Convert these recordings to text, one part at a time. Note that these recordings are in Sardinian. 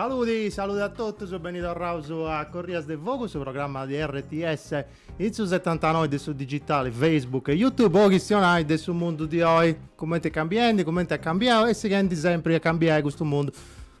Saludi, saludi a totus, beni torraus a Corrias de Fogu, su programma de RTS in su 79 de su digitali, Facebook e YouTube, po chistionai de su mundu di oi, cumenti est cambiendi, cumenti at cambiau e sighendi sempri a cambiai custu mundu.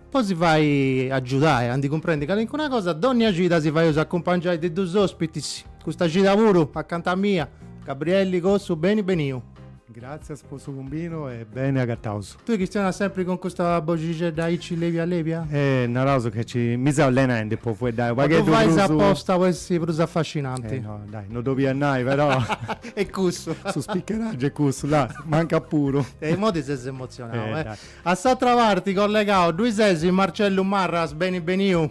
Po si fai agiudai a ndi cumprendi calincuna cosa, dònnia cida si faius acumpangiai de dus òspitis, custa cida puru acanta mia, Gabrielli Cossu, beni beniu. Gràtzias po su cumbidu e beni agataus. Tui chistionas sempri cun custa boxixedda aici levia levia? Eh, naraus ca nci mi seu allenaendi po fueddai u' pagheddu prus. O ddu fais aposta po essi prus afascinanti? Eh no, dai, no ddu 'olia nai però. Est cussu. Su spicheraggiu est cussu, là, mancat puru. E imoi ti ses emotzionau, eh. A s'atra parti collegau ddui sesi Marcellu Marras, beni beniu.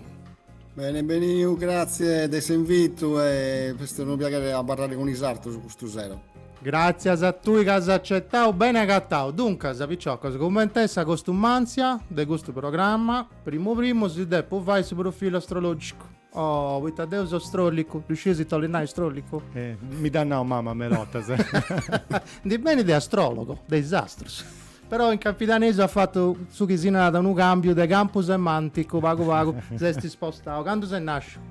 Beni beniu, grazie de s'invitu e est unu piaghere abarrare cun is artus custu sero. Gràtzias a tui ca as acetau, beni agatau. Duncas, piciocos, cumenti est sa costumantzia de custu programma, primu primu si depu fai su profilu astrològicu. Oh, poita deu so strollicu, ddu scius ita 'olit nai strollicu? Eh, mi dd'at nau mama meda bortas. Ndi benit de astrologo, de is astrus. Però in campidanesu at fatu su chi si narat unu cambiu de campu semanticu, pagu pagu s'est spostau. Candu ses nàsciu?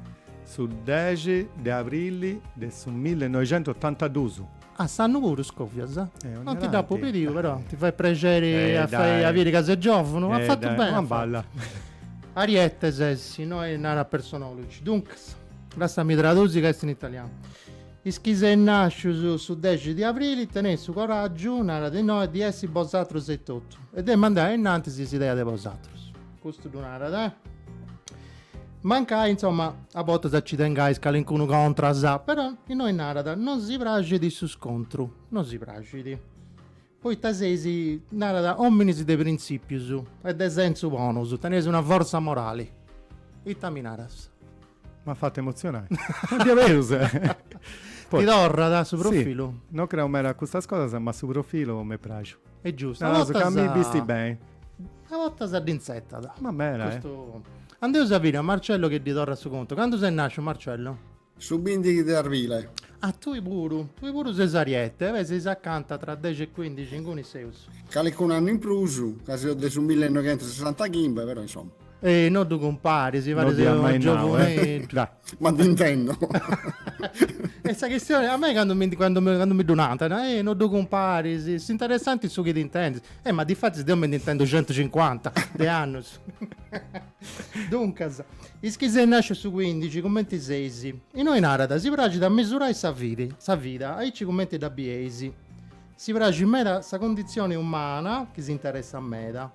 Su dexi de abrili de su millenoixentuotantadus. Ah, s'annu puru scovias? Eh, non ti dd'apu pediu, però ti fait prexeri a fai a biri ca ses giòvunu? Eh, dai. As fatu beni, as fatu. Eh, dai, una balla. Ariete ses, innoi narat Personology. Duncas, lassami tradusi ca est in italianu. Is chi seis nàscius su dexi di abrili teneis su coràgiu, narat innoi, di essi bosatrus etotu e de mandai ainnantis s'idea de bosatrus. Custu ddu narat. Mancai, insomma, a bortas nci tengais calincunu contras, però innoi narat, non si praxit su scontru, non si praxit. Poita seis, narat, ominis de printzìpius e de sensu bonus, teneis una fortza morali. Ita mi naras? M'at fatu emotzionai. Diaderus! Ti torrat su profilu? Si, non creu meda a custas cosas, ma su profilu m'est praxiu. Est giustu. Naraus ca mi bistit beni. A bortas dd'intzertat. Ma meda, eh. Andeus a biri a Marcello chi ddi torrat su contu. Candu ses nàsciu, Marcello? Su bìndighi de arbile. Ah, tui puru. Tui puru ses ariete. Beh, seis acanta tra dexi e cuìndixi inguni seus. Calicunu annu in prus, ca seo de su millenoighentusesantachimbe, però insoma. Ehi, no ddu cumparis, paris unu giovuneddu. Ma ti intendo. Est sa chistione, a mei candu mi, candu, candu mi ddu nantant, eh, no ddu cumparis, s'interessat su chi t'intendis. Eh, ma difatis deu mi nde intendo centucincuanta de annus. Duncas, is chi seis nàsciu su cuindixi, cumenti seis? Innoi narat, si praxit a misurai sa vi, sa vida, aici cumenti dda bieis. Si praxit meda sa cunditzioni umana, chi s'interessat meda.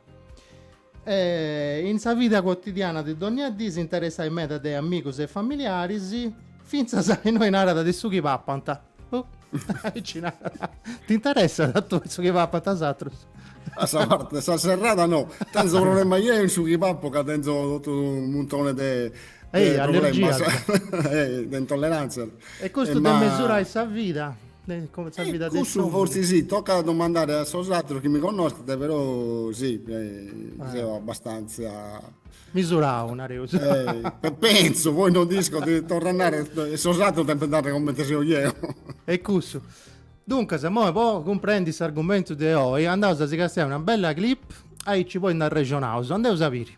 E in sa vida cuotidiana de dònnia dì s'interessais meda de amigus e familiaris, fintzas a innoi narat de su chi papant. Oh, aici narat, t'interessat a tue su chi papant is atrus? A sa parte de sa serrada no, tenzo problema jeu in su chi papo ca tenzo totu unu muntone de problemas, de intollerantzias. E custu de mesurai sa vida. Cussu forsis si, tocat a domandare a sos ateros chi mi connoschent, però si, seu abastantzia. Misurau, nareus. Pentzo, poi non nd'isco, torru a narrer, sos ateros depint narrer comente seu ieu. E cussu. Duncas, imoi po cumprendi s'argumentu de oi, andaus a si castiai una bella clip, aici poi nd'arrexonaus. Andeus a biri.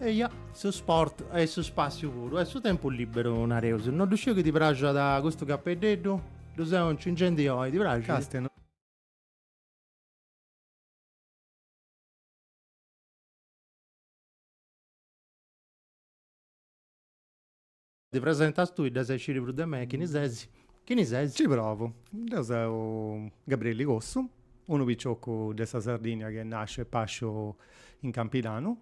Eia, su sport e su spassiu puru, est su tempus liberu nareus. Non ddu sciu chi ti praxat custu capeddeddu? Ddu seu ncingendi oi, ti praxit? Castia. Ddi presentas tui, dd'as a sciri prus de mei, chini ses? Chini ses? Ci provu. Deu seu Gabriele Cossu, unu picioccu de sa Sardìnnia chi est nàsciu e pàsciu in Campidanu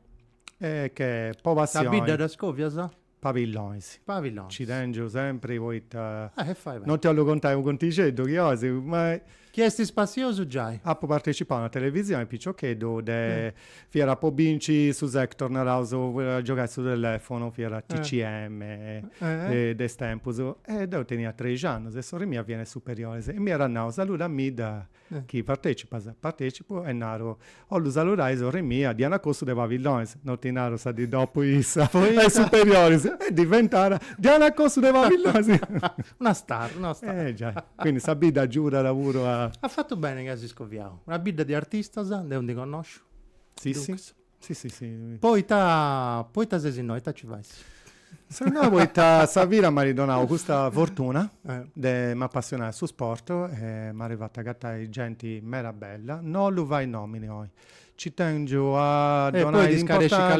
e che po passioni. Sa bidda dda scòvias? Pabillonis. Pabillonis. Nci tèngiu sempri poita. E fais beni. Non ti 'ollu contai unu contixeddu chi 'ois, ma. Chi est spassiosu giai. Apu partecipau a una televisioni piciocheddu de fiat po binci su Sega Saturn naraus a giogai su telefonu fiat TCM de is tempus, e deu tenia trexi annus e sorri mia fiat in superioris e m'iat nau saluda-mi-dda chi partecipas, partecipu e naru Ollu saludai sorri mia, Diana Cossu de Pabillonis, no ti naru sa di dopu issa, a is superioris, est diventada Diana Cossu de Pabillonis. Una star, una star. Eh giai, quindi sa bidda agiudat puru a. As fatu beni ca as scoviau. Una bidda di artistas, deu ndi connosciu. Si si, si si si. Poita, poita ses innoi, ita ci fais? Seu nau poita sa vida m'at donau custa fortuna de m'apassionai a su sport e m'at fatu agatai genti meda bella, no ddu fait a nomini oi, ci tengiu a donai importantza,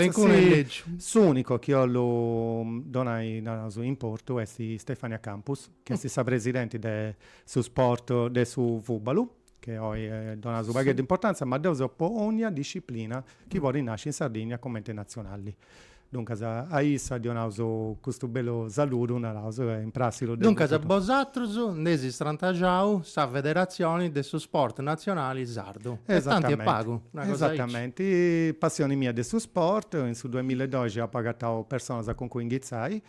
s'unicu chi 'ollu donai naraus importu est Stefania Campus, chi est sa presidenti de su sport de su fubalu. chi oi donaus unu pagheddu de importantzia, ma deu seu po onnia disciplina chi podit nasci in Sardigna comenti natzionalli. Duncas a issa ddi 'onaus custu bellu saludu, naraus in prus si ddu depu Duncas bosatrus nd'eis istrantaxau sa federatzioni de su sport natzionali sardu. E tanti e pagu, una cosa aici. Esatamenti, passioni mia de su sport, in su duamilla e doxi apu agatau personas cun cui inghitzai,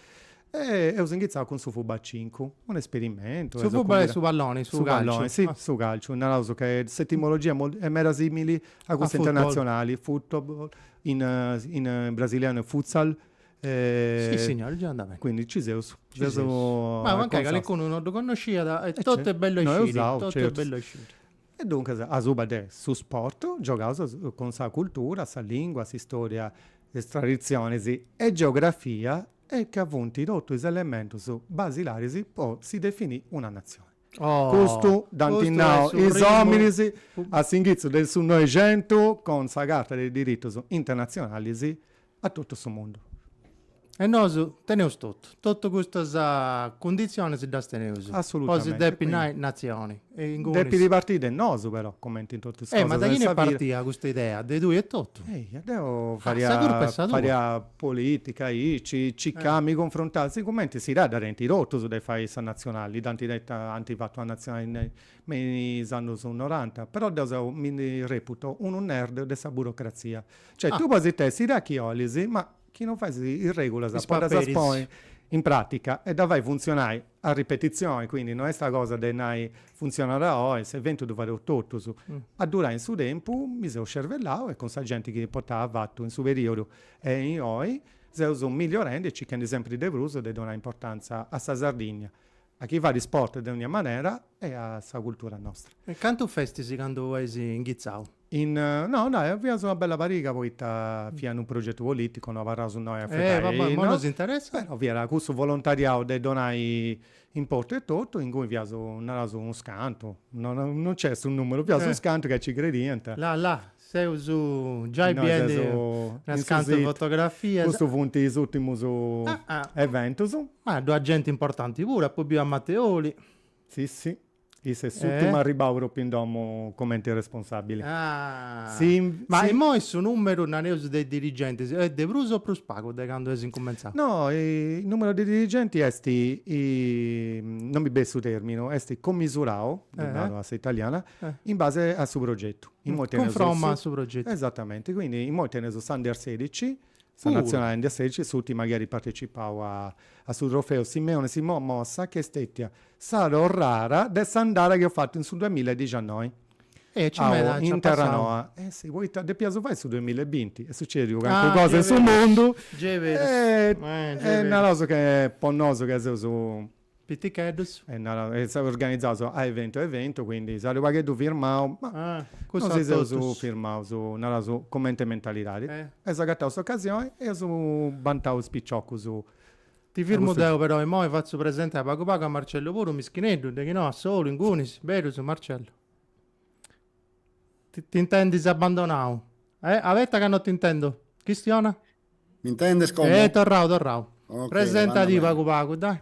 E eus inghitzau cun su Fuba a cincu, un esperimentu. Su Fuba est su palloni, su calciu. Si, su calciu, naraus ca s'etimologia est meda simili a custa internatzionali, football, in brasilianu est futsal. Si signori, già andat beni. Quindi nci seus. Ma mancai calicunu non ddu connosciat e totu est bellu a sciri. No eus totu est bellu a sciri. E duncas asuba de su sport giogaus cun sa cultura, sa lingua, s'istoria, is traditzionis e geografia e ca funt totu is elementus basilaris po si definì una natzioni. Custu dd'ant nau is òminis a s'inghitzu de su Noixentu cun sa Carta de is diritus internatzionalis a totu su mundu. E nosu teneus totu, totu custas cunditzionis ddas teneus po si depi nai natzioni. Depit partiri de nosu però, cumenti in totu is cosas de sa vida. E ma de chini est partida custa idea de tui etotu? Deu faria, faria Polìtica, aici, ci ca mi cunfruntaus, sigumenti s'idea dda tenint totus de fai sa natzionali, dd'ant tenta, ant fatu una natzionali me is annus noranta, però deu seu, mi ndi reputo, unu nerd de sa burocratzia. Cioè, tui podis tenni s'idea chi 'olis, ma chi non fais is regulas po ddas ponni in pràtica e dda fai funtzionai a ripetizioni, quindi non est sa cosa de nai funtzionat oi, s'eventu ddu fadeus totus. A durai in su tempus mi seu scervellau e cun sa genti chi portamu avatu in su periodu E inoi seus migliorendi e circhendi sempri de prus de donai importantza a sa Sardinnia, a chini fait sport de ognia manera e a sa cultura nostra. E cantu festis candu eis inghitzau? In, no, nai, fiaus una bella pariga poita fiat in unu progetu politicu, no abarraus innoi a fai, no, però fiat cussu volontariau de donai importu e totu, inguni fiaus, naraus, unus cantu, no, no nc'est su numeru, fiaus is cantu ca ci crediant. La la, Seus giai biendi unas cantas fotografias. Custus funt is ùrtimus eventus. Ma ddu at genti importanti puru, apu biu a Mateoli. Si si, issa est s'ùrtimu arribau propriu in domu cumenti responsabili. Ma imoi su numeru, nareus, de dirigentis est de prus o prus pagu de candu eis incumentzau? No, su numeru de is dirigentis est, non mi benit su terminu, est commisurau, ddu nau a sa italiana, In base a su progetu. Cunfroma a su progetu. Esatamente, quindi immoi teneus s'Under sedici, sa nazionali Under sedici, s'urtima chi at partecipau a a su trofeu Simeoni Simon Mossa chi est stetia sa torrara de s'andada chi eus fatu in su duamilla e dixannoi. E aici meda aici at passau. Eh si, poita depiaus fai su duamilla e binti, est sucediu calincuna cosa in su mundu e naraus ca po nosu ca seus Piticheddus. E organizaus a eventu a eventu, quindi s'at unu pagheddu firmau, ma no si seus firmaus, naraus, cumenti mentalidadi. Eus agatau s'ocasioni e eus bantau is piciocus. Ti firmu deu però, imoi fatzu presenti a pagu pagu a Marcellu puru, mischineddu, de chi no, a solu, ingunis, berus, Marcellu. Ti intendis abbandonau? Eh, abetta ca no t'intendu. Chistiona? M'intendes como? Ehi, torrau, torrau. Ok, Presenta ti pagu pagu, dai.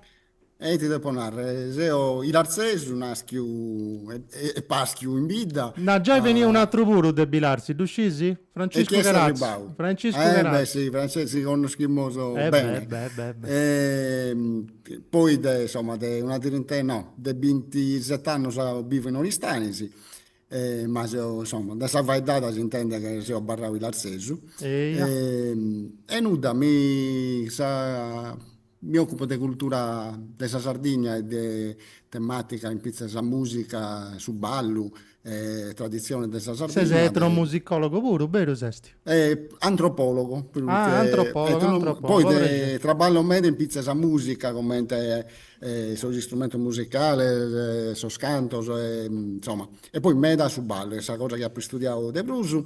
Ehi, ti depo narre, seo ilarzesu, naschiu e paschiu in bidda. Na, giai benniu un atru puru de Bilarzi, ddu scisi? Franciscu Cherazzu. Franciscu Cherazzu. Eh, beh, si, Franciscu, si connoschimus bene. Eh, beh, beh, beh. E poi de, insomma, de una trintena, no, de bintiset'annus bivu in Oristanis. Ma seo, insoma, de sa faeddada s'intendet chi seo abarrau ilarzesu. Eia. E nudda, mi sa, mi ocupo de cultura de sa Sardigna e de tematica in pitzus sa musica, su ballu e tradizionis de sa Sardigna. Ses etnomusicologu puru, beru esti? Antropologu, prus che. Ah, antropologu, antropologu. Poi traballo meda in pitzus sa musica, comente e sos istrumentos musicales e sos cantos e insoma, e poi meda su ballu chi est sa cosa chi apo istudiadu de prus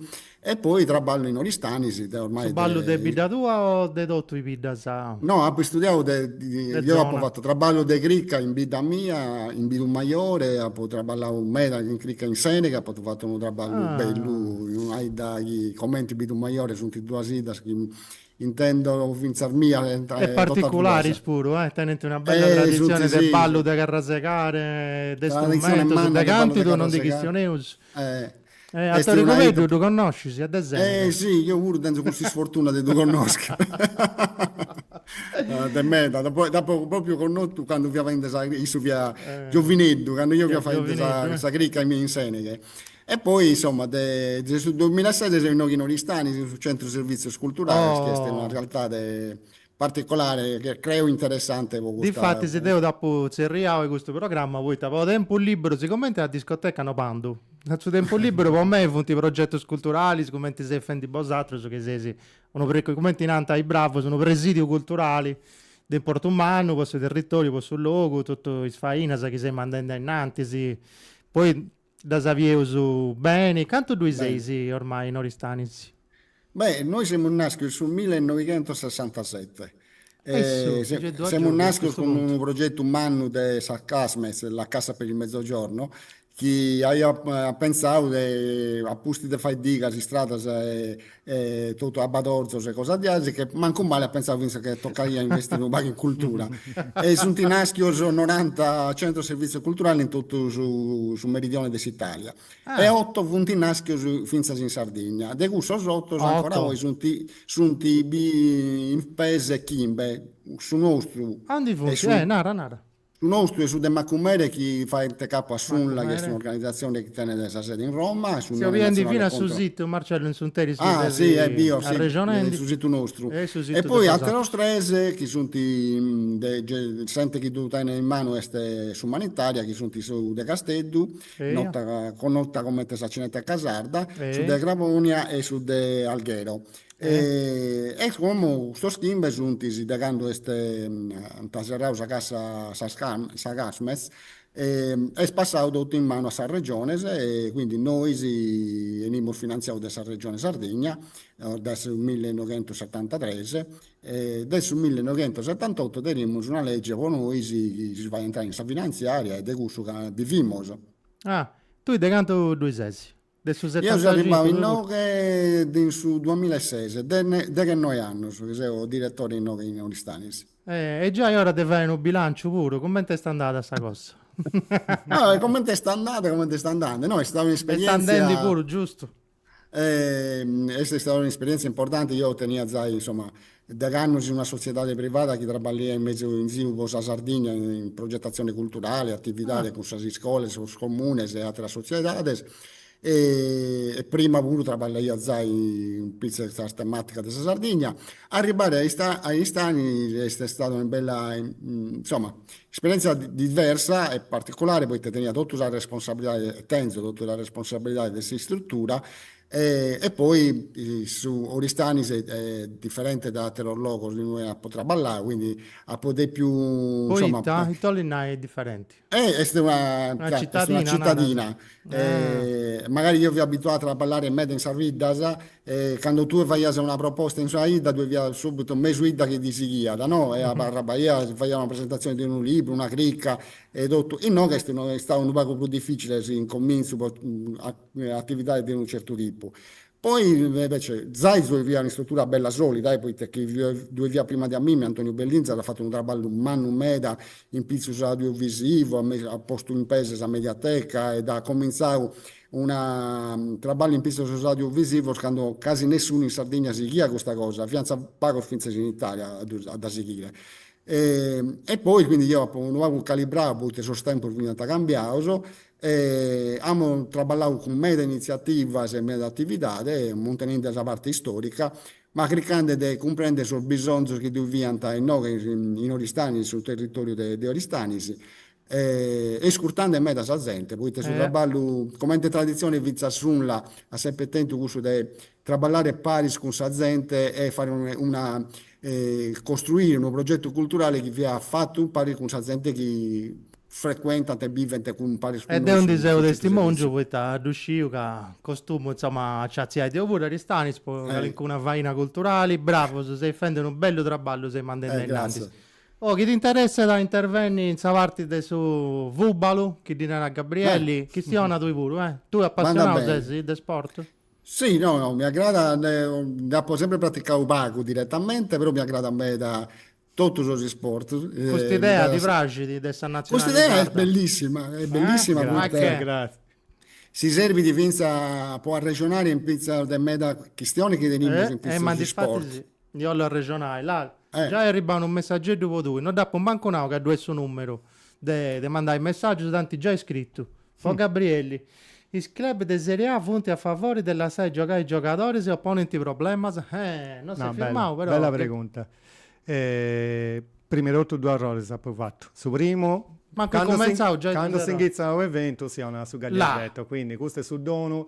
e poi traballo in Oristanis si deo ormai de Su ballu de bidda tua o de totu is biddas? No apo istudiadu de De deo apo zona fatu traballu de cricca in bidda mia in Bidumajore apo traballau meda in cricca in Seneghe apo fatu unu traballu bellu Ah in una 'idda chi comenti Bidumajore sunt duas 'iddas chi Intendo fintzas mia e totu ateras. E particularis puru, eh! Tenent una bella traditzione de ballu de carrasegare, de strumentos, de cantu poi non ndi chistioneus. E a Tori Cubeddu ddu connoscis est de Sèneghe. Eh si, deu puru tenzu custa isfortuna de ddu connoschi. De meda, dd'apu pròpriu connotu candu fia faendi sa, issu fiat giovineddu, candu deu fia faendi sa cricca in Sèneghe. E poi, insomma, de su duemilasete seu inoghe in Oristani, in su Centru Servizios Culturales, chi est una realtade particolare, che creo interessante po custa. Difatis deu dd'apu tzerriau e custu programma poita po tempus liberu, sigomente a discoteca no bandu, su tempus liberu po mei funt progetus culturalis, cumenti seis fendi bosatrus chi seis unu pre, cumenti nant is bravus, unu presidiu culturali de importu mannu po su territoriu, po su logu, totu is fainas chi seis mandendi ainnantis, poi Ddas bieus beni? Cantu ddui seis ormai, in Oristanis? Beh, noi semus nàschius su millenoighentossessantasete e semus nàschius cun unu progetu mannu de sa CASMEZ, la Cassa per il Mezzogiorno, chi aiat pentzau de, a pustis de fai digas, istradas e E totu abbadorzos e cosas diaici che mancu male at pentzau fintzas che tocaiat investiri unu pagu in cultura. E sunt nàschios noranta centros de servizio culturale in totu su meridione de s'Italia. E oto funt nàschios fintzas in Sardigna. De cussos oto ancora oi sunt sunt in pes chimbe. Su nostru. Aundi funt? Eh, nara, nara. Su nostru e su de Macumere chi faent capu a s'UNLA chi est un'organizatzione chi tenet sa sede in Roma est s'Unione nazionale contro l'analfabetismo. Ah si, e bio, si, su situ nostru. E poi àteros tres chi sunt de s'ente chi ddu tenet in manu est s'Umanitaria chi sunt su de Casteddu, nota, connota comente sa Cineteca Sarda, su de Crabònia e su de Alghero. E como custos chimbe suntis de candu est ant serrau sa cassa sas sa Casmez est passau totu in manu a sas Regiones e quindi nois 'enimus finanziaus de sa Regione Sardigna dae su millenoighentusetantatres e dae su millenoighentusetantotto tenimus una legge po nois chi si faet intrare in sa finanziaria e de cussu bivimus. Ah, tui de cantu ddui ses? De su, eo seu arribau inoghe in su duamilla e ses, deghennoe annus chi seu diretore inoghe in Oristanis. E già est ora de fai unu bilanciu puru, cumenti est andada sa cosa? Cumenti est andada, cumenti est andandi, no, est stau un'isperientzia. Est andendi puru, giustu. Est stau un'isperientzia importanti, deu tenia zai, insoma, Deghe annos una sotziedade privada chi traballaiat in mezu in ziru po sa Sardigna in progetatzione culturale, atividade cun sas iscolas, sos comunes e atteras sotziedades e prima puru traballaia zai in pizzu a sas tematicas de sa Sardigna, arribbare a Aristanis est istada una bella insomma esperienzia diversa e particulare poite tenia totu sa responsabilidade e tenzo totu sa responsabilidade de s'istruttura E poi Oristanis est diferente dae ateros logos in ue apo traballau, quindi apo depiu, insoma. Poita? Ita 'olit nai diferenti? Est una citadina, est una citadina, magari deo fia abituau a traballare meda in sas 'iddas e cando tue faias una proposta in una 'idda tue tenias subitu mesu 'idda chi ti sighiat, no, e abarraias, si faias una presentazione de unu libru, una chirca e totu, inoghe est istau unu pagu prus dificile in comintzu po atividade de unu certu tipu. Poi invece zai ddue fiat un'istrutura bella solida, poita chi ddue fiat prima de a mimi, Antoniu Bellinza at fatu unu traballu mannu meda in pitzus audiovisivu, at postu in pese sa mediateca ed at comintzau unu traballu in pitzus audiovisivus candu casi nessunu in Sardigna sighiat custa cosa, fiantza pagos fintzas in Italia a ddus a dda sighire. E poi quindi deo apu unu pagu calibrau poita sos tempus fiant cambiaus E amus traballau cun meda initziativas e meda atividade, muntenende sa parte istòrica, ma cricande de cumprèndere sos bisonzos chi ddu fiant inoghe in Oristànis, in su territòriu de Oristànis, e iscurtende meda sa zente, poita su traballu, comente traditzione fintzas s'UNLA at semper tentu cussu de Traballare paris cun sa zente e fare una costruire unu progetu culturale chi fiat fatu paris cun sa zente chi frecuentant e bivent cun paris cun nois. E deu ndi seu testimòngiu poita ddu sciu ca costumu insoma nci atziait. deu puru a Aristanis po calincuna faina culturali. Bravos, seis fendi unu bellu traballu seis mandendi ainnantis. Oh, si t'interessat a intervenni in sa parti de su fùbalu, chi ddi narat Gabrielli, chistiona tui puru, eh. Tui apassionau ses de sport? Si, no, no, mi agradat, nd'apo sempre praticadu pagu diretamente, però mi agradat meda totu sos isportus. Cust'idea ti praxit de sa natzionali sarda? Cust'idea est bellissima, est bellissima poita si serbit fintzas po arrexonare in pitzus de meda chistionis chi tenimus in pitzus de isportu. Ndi 'ollu arrexonai, la. Giai est arribau unu messageddu po tui, no dd'apu mancu nau ca ddu est su numeru de de mandai messaggius, t'ant giai scrittu. Po Gabrielli, Is club de Serie A funt a favori de lassai giogai is giogadoris o ponint problemas? Eh! No s'est firmau però. Bella pregunta. Prima 'e totu duus arroris apu fatu. Su primu, cando s'ingitzat unu eventu si 'onat su gagliardetto, quindi custu est su donu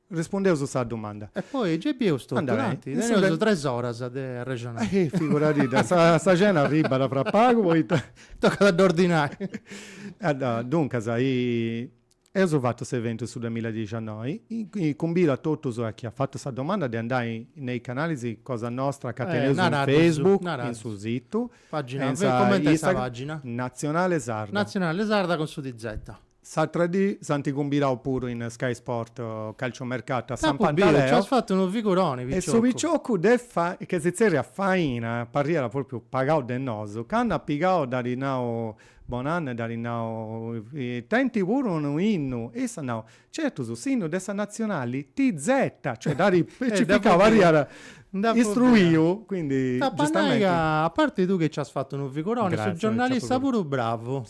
Rispundeus a sa dumanda. E poi gei bieus totu. Andrea. Teneus tres oras de arrexonai. Eh, figuradì, sa cena arribat fra pagu poita. Tocat a dd'ordinai. Duncas, eus fatu s'eventu in su duamilla e diciannoi, cumbidu a totus a chi at fatu sa domanda de andai nei canales cosa nostra ca teneus in Facebook, in su situ. Pagina, coment'est sa pagina? Natzionale Sarda. Natzionale Sarda cun su TZ. S'atra dì s'ant cumbidau puru in Sky Sport Calciomercato a San Pantaleo e su piciocu chi si tzerriat Faina, parriat propriu pagau de nosu, candu at pigau dd'at nau bonannu e dd'at nau, teneis puru unu innu, e issu at nau, certu, s'innu de sa Natzionali TZ, cioè dd'at specificau, parriat istruiu, quindi giustamenti. T'apo a nai ca a parti tui chi nci as fatu unu figuroni, su giornalista puru bravu.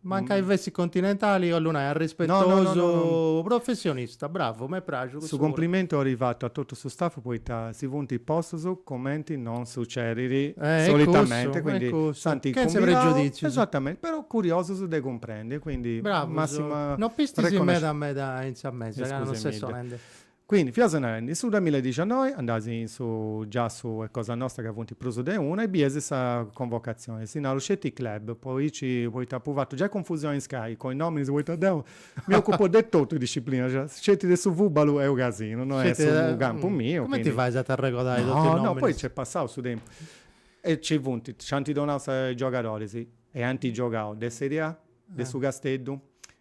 Mancai fessit continentali, 'ollu nai, arrispetosu, professionista, bravu, m'est praxiu cussu puru. Su cumplimentu bolit fatu a totu su staff poita si funt postus cumenti non sucedit solitamente, quindi sentza pregiudìtzius, esatamenti, però curiosus de cumprendi e quindi massima reconoscenza. Bravus, no ispistis meda meda in sa mesa ca non ses sonendi. Quindi, fias narendi, in su duamilla e diciannoi andàs in su giassu de cosa nostra ca funt prus de una e bies sa convocatzioni, si naru sceti club, po aici, poita apu fatu giai confusioni in Sky cun is nominis poita deu mi ocupo de totu is disciplinas, sceti de su fubalu est unu casinu, no est su campu miu, quindi. Cumenti fais a t'arregodai totu is nominis? No, no, poi nc'est passau su tempus e nci funt, nc'ant donau is giogadoris chi ant giogau de serie A, de su Casteddu,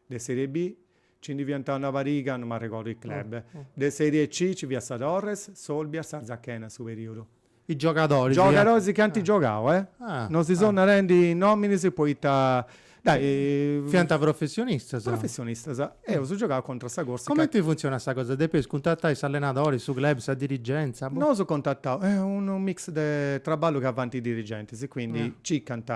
de serie B, Nci ndi fiant una pariga, no m'arregordu is club, de Serie C, ci fiat sa Torres, s'Olbia, s'Arzachena su perìodu. Is giogadoris. Giogadoris chi ant giogau, eh. Non si seu narendi nominis poita. Dai, fiant professionistas. Professionistas. Eus giogau contra sa Corsica. Comenti funtzionat sa cosa, depeis cuntatai s'allenadori, su club, sa dirigenza? Nosu eus contatau, est unu mix de traballu chi fant is dirigentis, quindi circant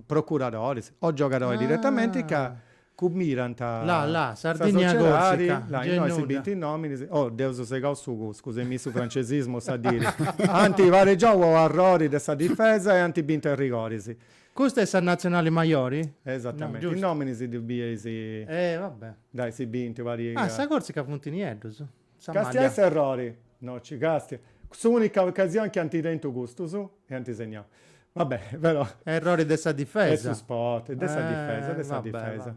procuradoris o giogadoris diretamenti ca Cumbidant a. La la, Sardigna Corsica, là innoi si bint is nominis, oh, dd'eus segau su cuscu, se mi su francesismus a diri, ant paregiau po arrori de sa difesa e ant bintu a is rigoris. Custa est sa natzionali majori? Esatamenti, is nominis ddus bieis. Eh va bè. Dai si bint una pariga. Ah sa Corsica funt nieddus. Sa maglia. Castia s'errori. No nci castia. S'unica ocasioni chi ant tentu custus e ant segnau. Va bene, però. Errori de sa difesa. E su spot. De sa difesa, de sa difesa.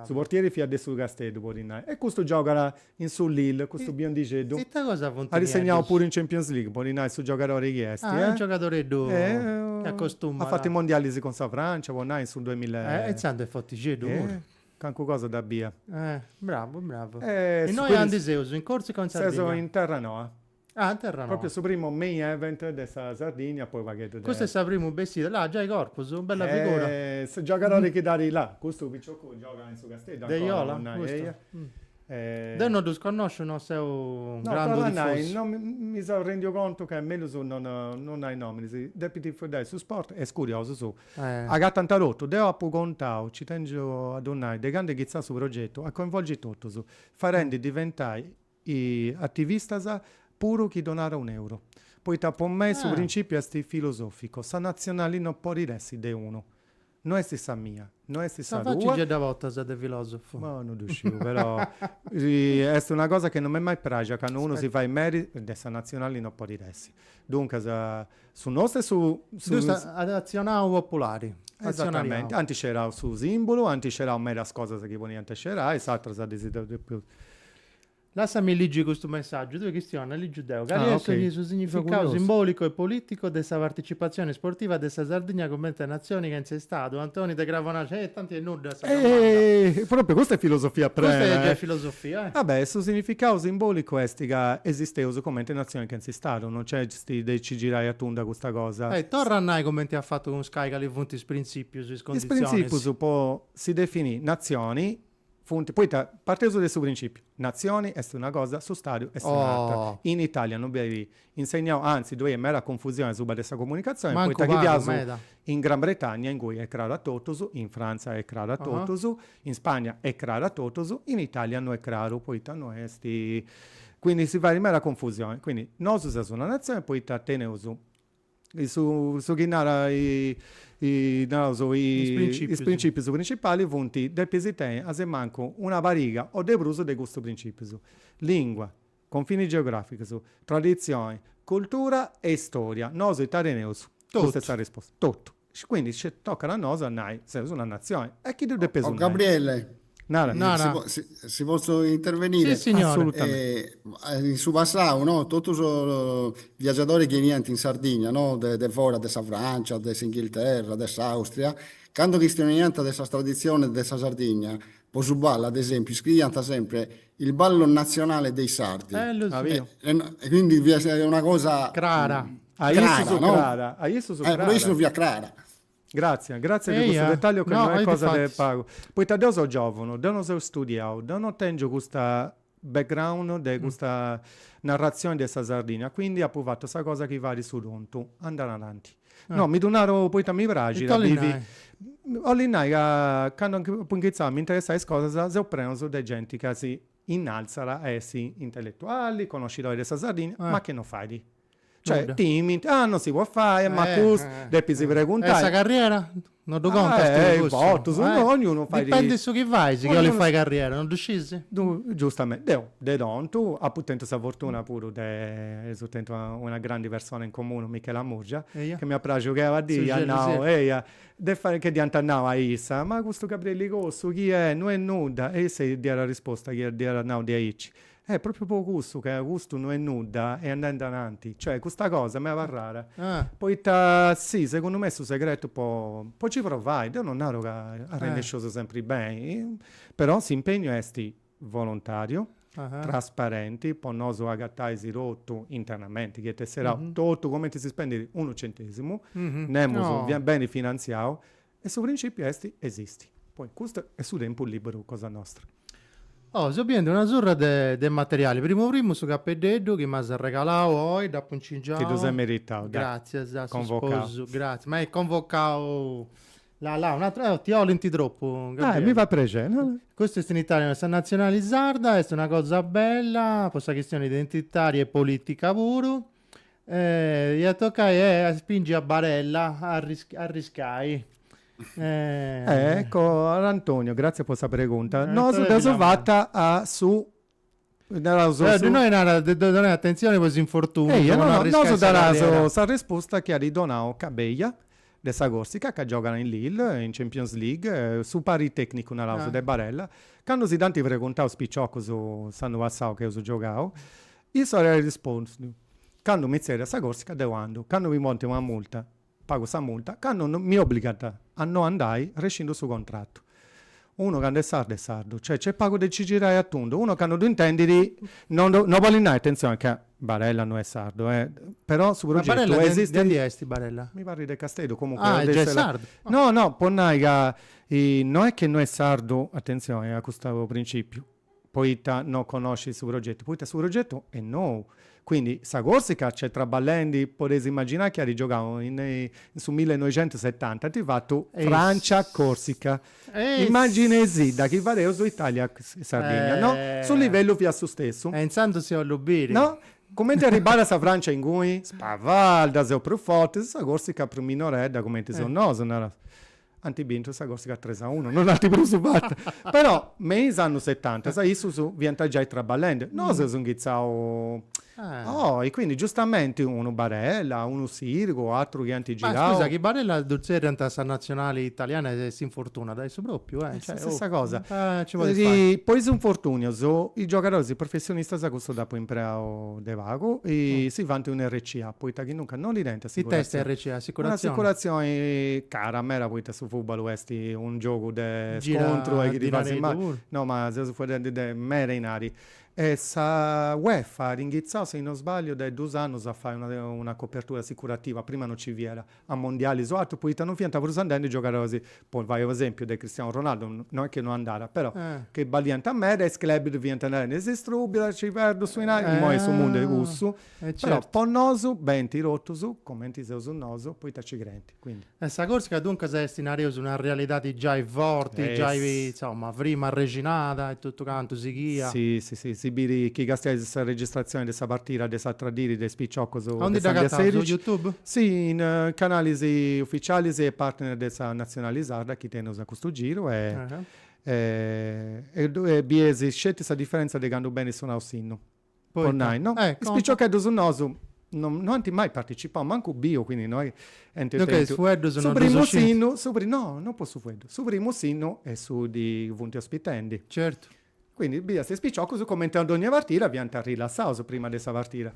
Su portieri fiat de su Casteddu, podi nai. E custu giogat in su Lille, custu biondixeddu. Is Corsus funt nieddus. At segnau puru in Champions League, podi nai su giogadori chi est. Ah, est giogadoreddu chi acostumat. At fatu is mondialis cun sa Francia, podi nai, in su duamilla e. E intzandus est fortixeddu puru. Calincuna cosa dda bia. Eh. Bravu, bravu. E innoi aundi seus in Corsica o in Sardigna? Seus in Terranoa. Ah, in Terranoa. Propriu su primu main event de sa Sardigna poi pagheddu de. Custa est sa primu bessida. Là giai Corpus? Bella figura. Eh, su giogadori chi ddu at là, custu piciocu giogat in su Casteddu ancora po nai. Deiola? Custu? Deu no ddus connosciu, no seu grandu tifosu. No, però, mi seu rendendi contu ca mellus non nai nominis, depint fueddai su sport, est curiosu su, agatant totu, deu apu contiau, nci tengiu a ddu nai, de candu est inghitzau su progetu, a coinvolgi totus, farendi diventai ativistas puru chi donat un euru, poita po mei su principiu est filosoficu, sa natzionali no podit essi de unu, No est sa mia, no est sa tua. Sa faci nche dda portas de filosofu? Boh, no ddu sciu, però est una cosa chi non m'est mai pràxia, cando unu si fait meri, de sa natzionali no podit essi. Duncas, su nostru est su, su. Ddu est atzionariau populari, atzionariau. Ant sceberau su simbulu, ant sceberau medas cosas chi podiant sceberai, is atras ddas detzidu deu. Lassami ligi custu messàgiu, tue chistiona ligiu deu, cali est su significau simbòlicu e polìticu de sa participatzioni sportiva de sa Sardigna comente natzioni chentza Istadu, Antoni de Cravonaxa, eh, tanti 'e nudda sa domanda. Eh, pròpriu, custa est filosofia prena, eh. Custa est giai filosofia, eh. Ah beh, su significau simbòlicu est ca esisteus comente natzioni chentza Istadu, non nc'est de nci girai a tundu a custa cosa. Eh, torra a nai comente apu fatu cun Sky cali funt is printzìpius, is conditzionis. Is printzìpius po si definì natzioni Funt, poita, parteus de su principiu, natzioni est una cosa, su stadu est un'atra. In Italia no benit insegnau, anzi ddoi est meda confusioni asuba de sa comunicatzioni, poita chi fiaus in Gran Bretagna, ingui est craru a totus, in Frantza est craru a totus, in Spagna est craru a totus, in Italia no est craru, poita no est, quindi si fait meda confusioni. Quindi, nosu seus una natzioni poita teneus Su chi naraus is principius principalis funt, depis tenni a su mancu una pariga o de prus de custus principius, lingua, confinis geograficus, traditzioni, cultura e istoria. Nosu ita teneus? Custa est sa risposta. Totu. Quindi nci tocat a nosu a nai, seus una natzioni e si ddu depeus nai. O Gabriele, si potzu intervenire, in su passau totus is viagiadori chi 'eniant in Sardigna de fora, de sa Francia, de s'Inghilterra, de s'Austria, candu chistionaiant de sas traditzionis de sa Sardigna, po su ballu ad esempiu iscriiant sempri il ballo nazionale dei sardi, e quindi fiat una cosa crara. A issus crara, a issus crara. Eh, po issus fiat crara. Gratzias, gratzias de custu dettagliu ca no est cosa de pagu. Poita deu seu giovunu, deu no seu studiau, deu no tengiu custa background de custa narratzioni de sa Sardinnia, quindi apu fatu sa cosa chi fait su tontu, andai a innanti. No, mi ddu naru poita mi praxit a bivi. Ollu nai ca candu apu inghitzau a mi interessai a is cosas seus prenus de genti ca si Innalzat a essi intelletuali, conoscidori de sa Sardigna, ma ca no fait? Cioè, timint, ah, non si podit fai, e mancu depis preguntai. E sa carriera? No ddu contas tui cussu? Ah, a bortas, ognunu fait. Dipendit su chi fait, si chini 'olit fai carriera, no ddu scis? Giustamenti. Deu, de tontu, apu tentu sa fortuna puru de essi tentu una grandi persona in comunu, Michela Murgia, chi m'est praxiu ca una dii at nau, eia, de fai ca dd'iant nau a issa, ma custu Gabriele Cossu chini est, no est nudda, e issa dd'iat arrisposta chi dd'iat nau diaici, eh, propriu po cussu ca custu no est nudda, at a andai a innantis, cioè custa cosa m'è abarrada, poita si, segundu mei su segretu po po ci provai, deu no naru ca arrennesceus sempri beni, però s'impegnu est Volontàriu, trasparenti, po nosu agatais totu internamenti, chini est tesserau totu cumenti si spendit unu centèsimu, nemus beni finantziau, e su principiu est esistiri. Poi custu est su tempus liberu cosa nostra. Oh, seu bidendi una surra de materiali, primu primu su capeddeddu chi m'as arregalau oi, dd'apu incingiau. Ti ddu ses meritau, dai. Gràtzias a su sposu, gràtzias, ma est convocau Là là, un'atra, oh, ti 'olint tropu, Gabriele. Ah, mi fait prexeri, no? Custu est in Italia, no? Sa natzionali sarda est una cosa bella, po sa chistioni identitaria e polìtica puru, e iat a tocai a spingi a Barella a arriscai. Ecco, Antonio, gratzias po sa pregunta. Nosu dd'eus fata a su Naraus su. Innoi narat de ddoi donai atentzioni po is infortùnius. Eia, no, no, nosu daraus sa resposta chi at donau Cabella de sa Còrsica, ca giogat in Lille, in Champions League, su pari tècnicu, naraus, de Barella. Candu si dd'ant preguntau is piciocus s'annu passau chi eus giogau, issu at arrispostu, candu mi tzerriat sa Còrsica deu andu, candu mi ponint una multa pagu sa multa candu mi obbligant a no andai rescindu su contrattu. Unu candu est sardu est sardu, cioè nc'est pagu de ci girai a tundu, unu candu ddu intendit no ddu no bolit nai, attenzione ca Barella no est sardu eh, però su progettu esistit. Ma Barella de aundi est Barella? Mi parrit de Casteddu, comunque Ah, est giai est sardu. No no, po nai ca no est ca no est sardu, attenzione a custu principiu, poita no conoscit su progetu, poita su progetu est nou, quindi sa Corsica nc'est traballendi, podeis imaginai chi at giogau in su millenoixentusetanta, ant fatu Francia Corsica, imaginaisì chi fadeus Italia Sardigna, no, su livellu fiat su stessu. E intzandus ddu 'ollu biri. No, cumenti arribat sa Francia inguni, spavalda seus prus fortis, sa Corsica prus minoredda cumenti seus nosu, naraus. At bintu sa Corsica tres a unu, non ant prus fatu. Però me is annus setanta issus fiant giai traballende. Nosu seus inghitzau oi, quindi giustamenti unu Barella, unu Sirigu, atrus chi ant girau. Ma scusa, chi Barella ddu tzerriant a sa nazionali italiana e s'infortunat, est propriu? Est sa stessa cosa. Nci podit stai. Po is infortunius, is giogadoris professionistas cussu dd'apu impreau. de pagu e si fant una RCA poita chi nunca no ddi tenint assicurazioni. Ita est RCA? Assicurazioni? Un'assicurazioni cara meda poita su fùtbalu est unu giogu de scontru e chi ti fais mali. No ma seus faeddendi de meda dinari. E sa UEFA at inghitzau si no sbagliu de dus annus a fai una copertura assicurativa, prima no ci fiat. a mondialis o atru poita non fiant prus andendi giogadoris, po fai u' esempiu de Cristiano Ronaldo, no est chi no andat, però, chi balliant meda e is club ddu fiant narendi chi si strupiat, ci perdu su dinari, imoi est su mundu de cussu, però po nosu benint totus cumenti seus nosu poita ci creint, quindi. E sa Corsica duncas est, nareus, una realidadi giai forti, giai, insoma, frimu arrexinada e totu cantu sighia. Si, si, si, si biit chi càstias sa registrazioni de sa partida de s'atra dii de is piciocus de Sandia Serici. Aunde dda agatau, su youtube? Si, in canalis uficialis e partner de sa Natzionali Sarda chi teneus a custu giru e bies sceti sa diferentza de candu benit sonau s'innu. Po nai, no? Is piciocheddus nosu no no ant mai participau, mancu biu, quindi no ent tentu. Duncas is fueddus no ddus scint? Su primu no, no po su fueddu. Su primu s'innu de su chi funt ospitendi. Certu. Quindi biis is piciocus cumenti a dogna partida fiant rilassaus prima de sa partida.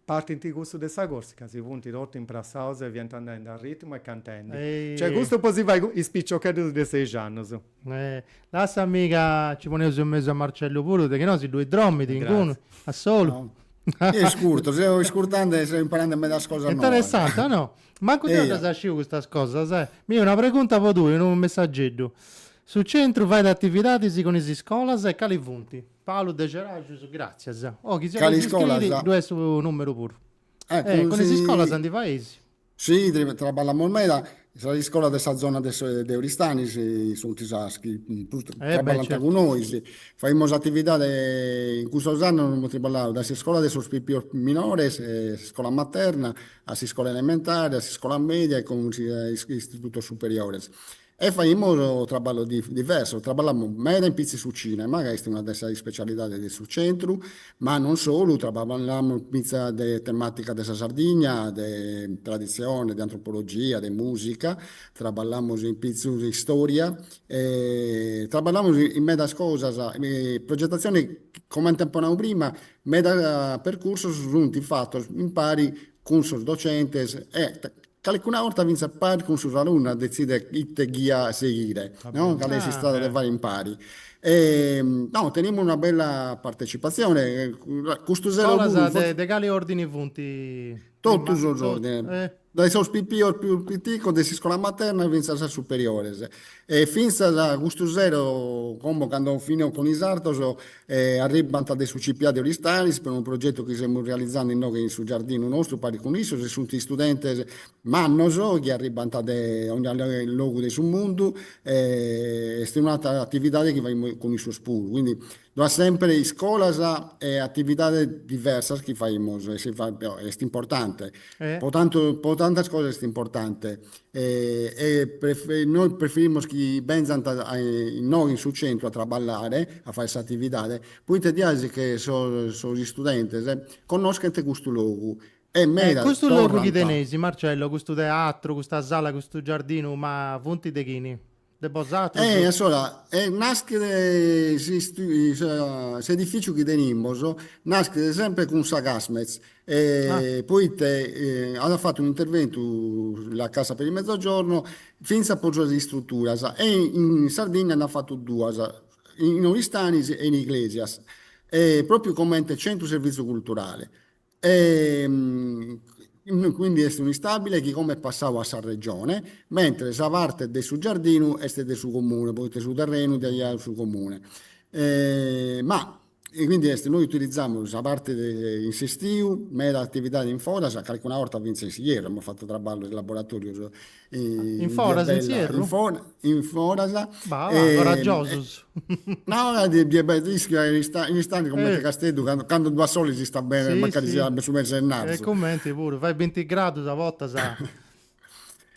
Partit cussu de sa Corsica, si funt totu imprassaus e fiant andendi a ritmu e cantendi. Cioè custu po si fai is piciocheddus de seixi annus. Lassami ca ci poneus in mesu a Marcellu puru, de chi no si ddui dromit inguni, a solu. Eo iscurto, seu iscurtandi e seu imparandi medas cosas noas. Interessanti, o no? Mancu deu ddas sciu custas cosas, eh. Mi una pregunta po tui, unu messageddu. Su centru fait atividadis cun is iscolas e cali funt? Palu de Gerajus Gràtzias. Oh, chi si 'olit iscriri, ddu est su nùmeru puru. Eh, cun is iscolas ndi fais? Si, traballamus meda. Sas iscolas de sa zona de Oristanis sunt sas chi prus traballant cun nois. Faimus atividadi, in custos annus amus traballau dae s'iscola de sos pipios minores, s'iscola materna, a s'iscola elementare, a s'iscola mèdia e cun is istitutos superiores. E faimus traballos diversos, traballamus meda in pitzu in su cinema, ca est una de sas ispecialidades de su centru, ma non solu, traballamus in pitzu de tematicas de sa Sardigna, de traditzione, de antropologia, de musica, traballamus in pitzu de istoria, traballamus in medas cosas, progetatzione, comente apo nau prima, meda percursos sunt fatos impari cun sos docentes e calecuna 'orta fintzas paris cun sos alunnos detzidere ite ghia seghire, no, cale est s'istrada de faghere impari. No, tenimus una bella partecipazione, custu sero puru. Scolas de de cale ordine funt? Totu sos ordines, dae sos pipios pius piticos de s'iscola materna fintzas a superiores e fintzas custu sero, como cando finiaus cun is ateros, E arribbant de su CPIA de Oristanis pro unu progetu chi semus realizande inoghe in su giardinu nostru paris cun issos e sunt istudentes mannos chi arribbant de ogna logu de su mundu e est un'atera atividade chi faimus cun issos puru. Quindi ddu at sempre iscolas e atividades diversas chi faimus e si est importante po tantas cosas est importante e nois preferimus chi benzant a innoi in su centru a traballare, a fai s'atividade, poita diaisi sos istudentes connoschent custu logu e medas torrant. Custu logu chi teneis, Marcello, custu teatru, custa sala, custu giardinu, ma funt de chini? De bosatrus. E assora, e naschet s'edificiu chi tenimus, naschet sempre cun sa Casmez, poite at fatu un'interventu la Cassa per il Mezzogiorno fintzas pro suas istruturas e in Sardinna nd'at fatu duas, in Oristanis e in Iglesias, propriu comente centru servitzios culturales. E quindi est un'istabile chi comu est passau a sa Regione, mentre sa parte de su giardinu est de su Comune, poita su terrenu dd'at giau su Comune. Ma quindi est, noi utilizamus sa parte de in s'estiu meda atividadi in foras, calcuna 'orta fintzas in s'ierru, amus fatu traballu de laboratorios In foras, in s'ierru? In foras, in foras. Bah, coraggiosus. No, ischiu ca in Aristanis cumenti a Casteddu candu ddu at soli s'istat beni mancari siat su mesi 'e ghennarzu. E comente puru, fait binti gradus a bortas.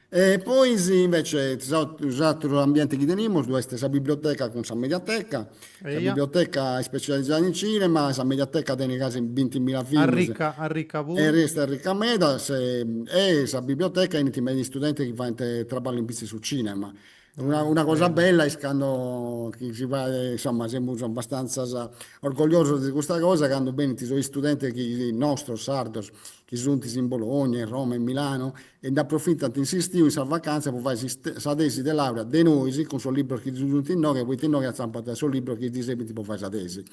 E poi invecias s'aturu ambienti chi tenimus ddu est sa biblioteca cun sa mediateca Sa biblioteca est specializada in cinema e sa mediateca tenit gasi binti mila films e est arrica meda. E sa biblioteca 'enint meda is studentes chi faint traballu in pitzus 'e su cinema. Una cosa bella est cando chi si fait, insomma, semus abastantzas orgogliosos de custa cosa, cando 'enint is studentes nostros, sardos, chi sunt in Bologna, in Roma, in Milano, e nd'aprofitant in s'istiu, in sa vacanza, po fai sa tesi de laurea de nois, cun sos libros chi ddus sunt inoghe, poita inoghe atzampant sos libros chi ddi serbint po fai sa tesi,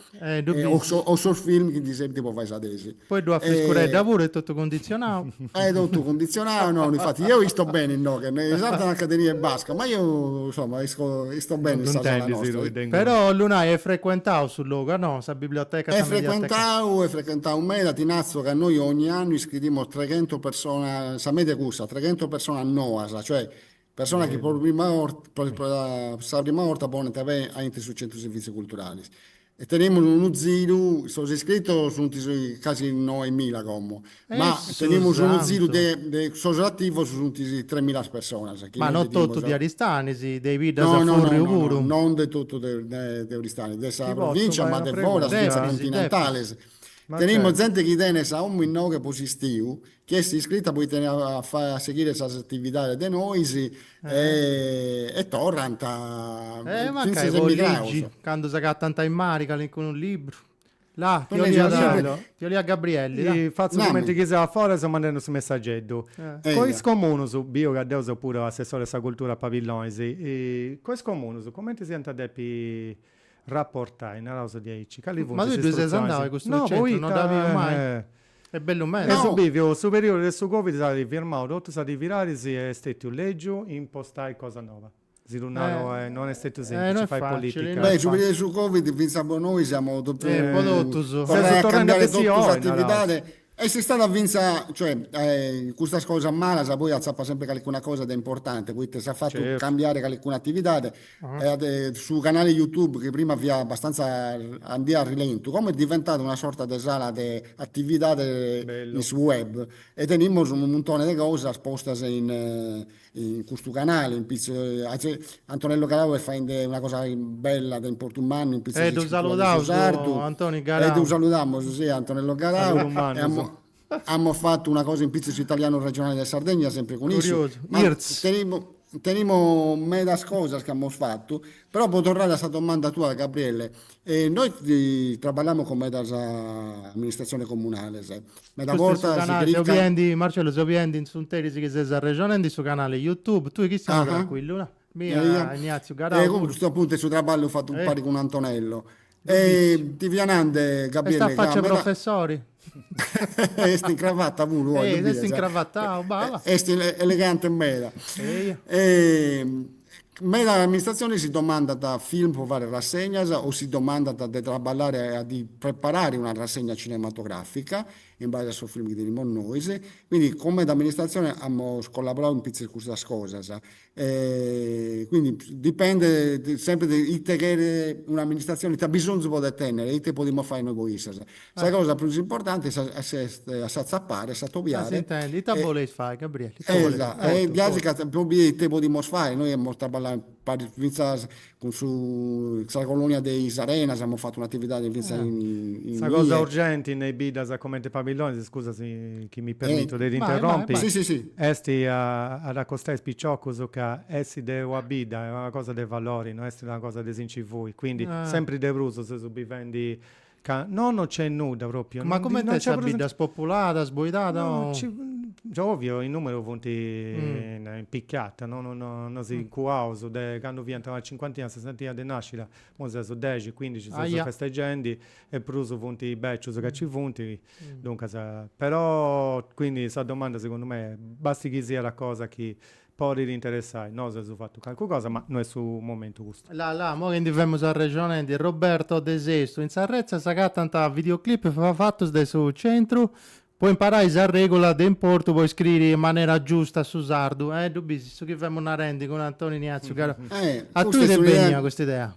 o sos film chi ddi serbint po fai sa tesi. Poi ddu at friscuredda puru, est totu cunditzionau. Est totu cunditzionau, no, no, infati deu isto beni inoghe, is ateras nant ca teniat basca, ma deu, insoma, isto beni in sa sala nostra. Però Lunai est frecuentau su logu, a nosa. Biblioteca sa mediateca. He frequentau meda, ti natzo ca noi ogni annu iscridimos treghentos personas, sa media est cussa, treghentos personas noas, cioè personas chi po sa prima orta ponent pei aintru su centru servizi culturalis e tenemus unu ziru, sos iscritos sunt casi noemila como Ma tenimus unu ziru de sos ativos sunt tremilas personas chi Ma no totu de Aristanis, de is biddas a furriu puru? No no no, non de totu de Aristanis, de sa provincia ma de foras fintzas continentales. Tenimus zente chi tenet sa omu inoghe po s'istiu, chi est iscrita poite ddi faet a seghire sas atividades de nois e torrant fintzas emigrados. Cando s'agatant in mare calincunu libru La, ti 'oliat, ti 'oliat Gabrielli, la. Fatzu cumenti chi seu a fora e seu mandende su messageddu. Cun is comunus, biu ca deu seu puru assessori a sa cultura a Pabillonis, cun is comunus cumenti s'iant a depi rapportai, naraus diaici, cali funt is istrutzionis. Ma tui ddoi ses andau a custu centru? No, poita. No dd'apu biu mai. Est bellu meda. E su biviu, su periudu de su Covid s'at firmau totu a diri beru e est stètiu lègiu impostai cosa noba. Si lu naro e non est stetiu semplici fai politica. Beh, su periodu 'e su Covid fintzas po nois semus totus torrai a cambiare totu s'atividade e est istada fintzas, cioè, custas cosas malas poi atzapat sempri calicuna cosa de importante poita s'at fatu cambiare calicuna atividade e su canale Youtube chi prima fiat abbastanza, andiat a rilentu, como est diventadu una sorta de sala de atividade in su web e tenimus unu muntone de cosas postas in in custu canale in pitzus Antonello Garau est faende una cosa bella de importu mannu in pitzus de iscritura de su sardu e ddu saludamus a Antonello Garau amus fatu una cosa in pitzus su italianu regionale de Sardegna sempre cun issu tenimus medas cosas chi amus fatu però po torrare a sa domanda tua Gabriele E nois traballamus cun medas amministratziones comunales, meda bortas si cheriat ca. Marcello seu biendi in s'unteris chi ses arrexonendi su canale Youtube, tui chi siat trancuillu, no? Biu a Ignazio Garau puru. E cun custu apuntu est su traballu fatu impari cun Antonello. E ti fia nande Gabriele ca meda. Est a facci 'e professori. Est in cravata puru oi, ddu bides? Est in cravata, bala. Est elegante meda. Meda amministratzionis si domandant film po faghere rassegnas o si domandant de traballare a ddi preparare una rassegna cinematogràfica in base a sos film chi tenimus nois. Quindi, cun meda amministratzioni amus collaborau in pitzus custas cosas. Quindi dipendet sempri de ite cheret un'amministratzione, ite bisonzu podet tenner e ite podimus fai nois po issas. Sa cosa prus importanti est a s'atzapare, a s'atobiare. Ite boleis fai Gabrielli? Ita boleis fai? Gasi ca po biri ite podimus fai, nois amus traballai paris fintzas Cun sa colonia de is arenas amus fatu un'atividadi fintzas in in Sa cosa urgenti in is biddas comente pabillonis, scusa si chi mi permito de t'interrompi, est a acostai is piciocus ca essi de una bidda est una cosa de valori, no est una cosa de si nci fuiri, quindi sempri de prus seus bivendi Ca nono nc'est nudda propriu. Ma comente est sa bidda, est populada, est boidada o. Ovvio in numeru funt in picada, nono no si ncuaus de candu fiant una cincuantina sessantina de nascitas, imoi seus dexi, cuindixi seus festegendi e prus funt becius ca nci funt, duncas. Però, quindi sa domanda segundu mei est, basti chi siat cosa chi podit interessai, nosu eus fatu calcu cosa ma no est su momentu custu. La la, mo chi ndi femus arrexonendi e Roberto de Sestu in sa retza s'agatant videoclip fatus de su centru po imparai sa regula de importu po iscriri in manera giusta su sardu, eh ddu bis su chi femus narendi cun Antoni Nàtziu, ca a tui t'est bennia custa idea?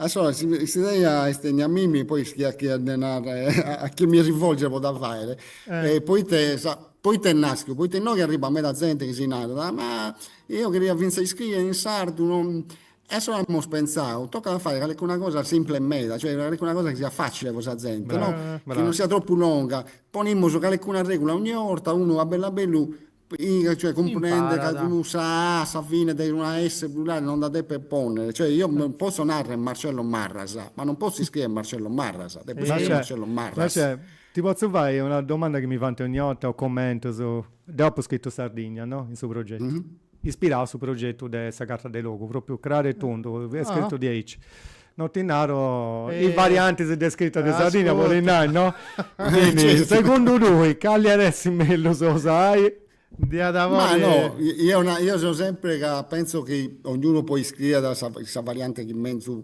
Allora s'idea est bennia a mimi, poi ischia a chie dde narrer e a chie mi rivolger po dda faer, poita sa, poita est naschiu, poita innoghe arribat meda zente chi si narat, ma eo cheria finzas a iscrier in sardu, no, e allora amus pentzau, tocat a fai calicuna cosa simples meda, cioè calicuna cosa chi siat facile po sa zente, no, chi non siat tropu longa, ponimus calicuna regula ogni 'orta, unu a bellu a bellu Piga, cioè cumprender ca Imparat. cun sa A a sa fine de una S plurale non dda depet ponner, cioè io m- posso narrer Marcello Marrasa, ma non posso iscrier Marcello Marrasa, depo iscrier Marcè, Marcello Marras. Marcè, ti potzu fai una domanda chi mi faint ogni 'orta is commentus, deu apu scritu Sardigna, no, in su progettu, ispirau a su progettu de sa carta de logu, propriu craru e tundu, est scritu diaici. No ti nau is variantis de scrita de Sardigna, bollu nai, no? Quindi, segundu tui, cali iat essi mellus a usai? Ma no, io na, io seu sempri ca pentzu chi ognunu poi scriat sa sa varianti chi menzu,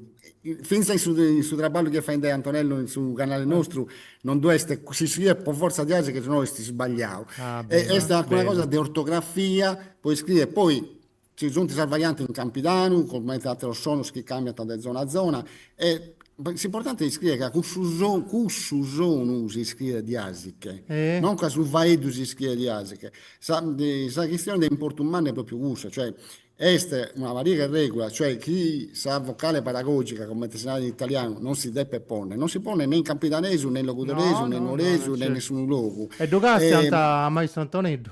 finzas in su in su traballu chi est faendi Antonello in su canali nostru non ddu est, si scriet po fortza diaicci ca si no est sbagliau. Est una cosa de ortografia po iscriri e poi Ci sunt sas variantes in campidanu, comente àteros sonos chi càmbiant de zona a zona, e s'importanti est iscriere ca cussu sonu, cussu sonu si iscriet diàsiche, non ca su faeddu si iscriet diàsiche. Sa sa chistione de importu mannu est pròpiu cussa, cioè est una pariga 'e règulas, cioè chi sa vocale paragògica, comente si narat in italianu, non si depet pònnere, non si ponet ne in campidanesu ne in logudoresu ne in nuoresu ne in nessunu logu. E ddu castiant a Maistru Antoneddu.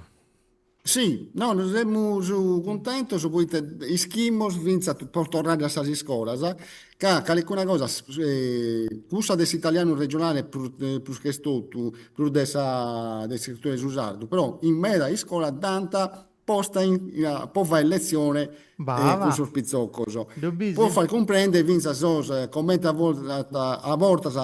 Si, no, nos semus cuntentos poita ischimus fintzas, po torrare a sas iscolas, ca calicuna cosa, cussa de s'italianu regionale prus ch'est totu, prus de sa de s'iscritura de su sardu, però in meda iscola dd'ant posta po fai letzione cun sos pitzoccos, po fai cumprendere fintzas sos, comente a bortas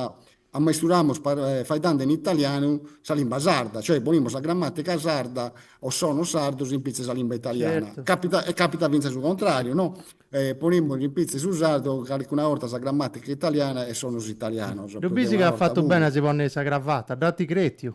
Ammesturamus faeddende in italianu sa limba sarda, cioè ponimus sa grammàtica sarda o sonos sardos in pitzu 'e sa limba italiana. Certu. Capita, e capita fintzas su contrariu, no? Ponimus in pitzu 'e su sardu calicuna 'orta sa grammàtica italiana e sonos italianos. Ddu bisi ca at fatu bene a si ponni sa cravata, dda ant cretiu.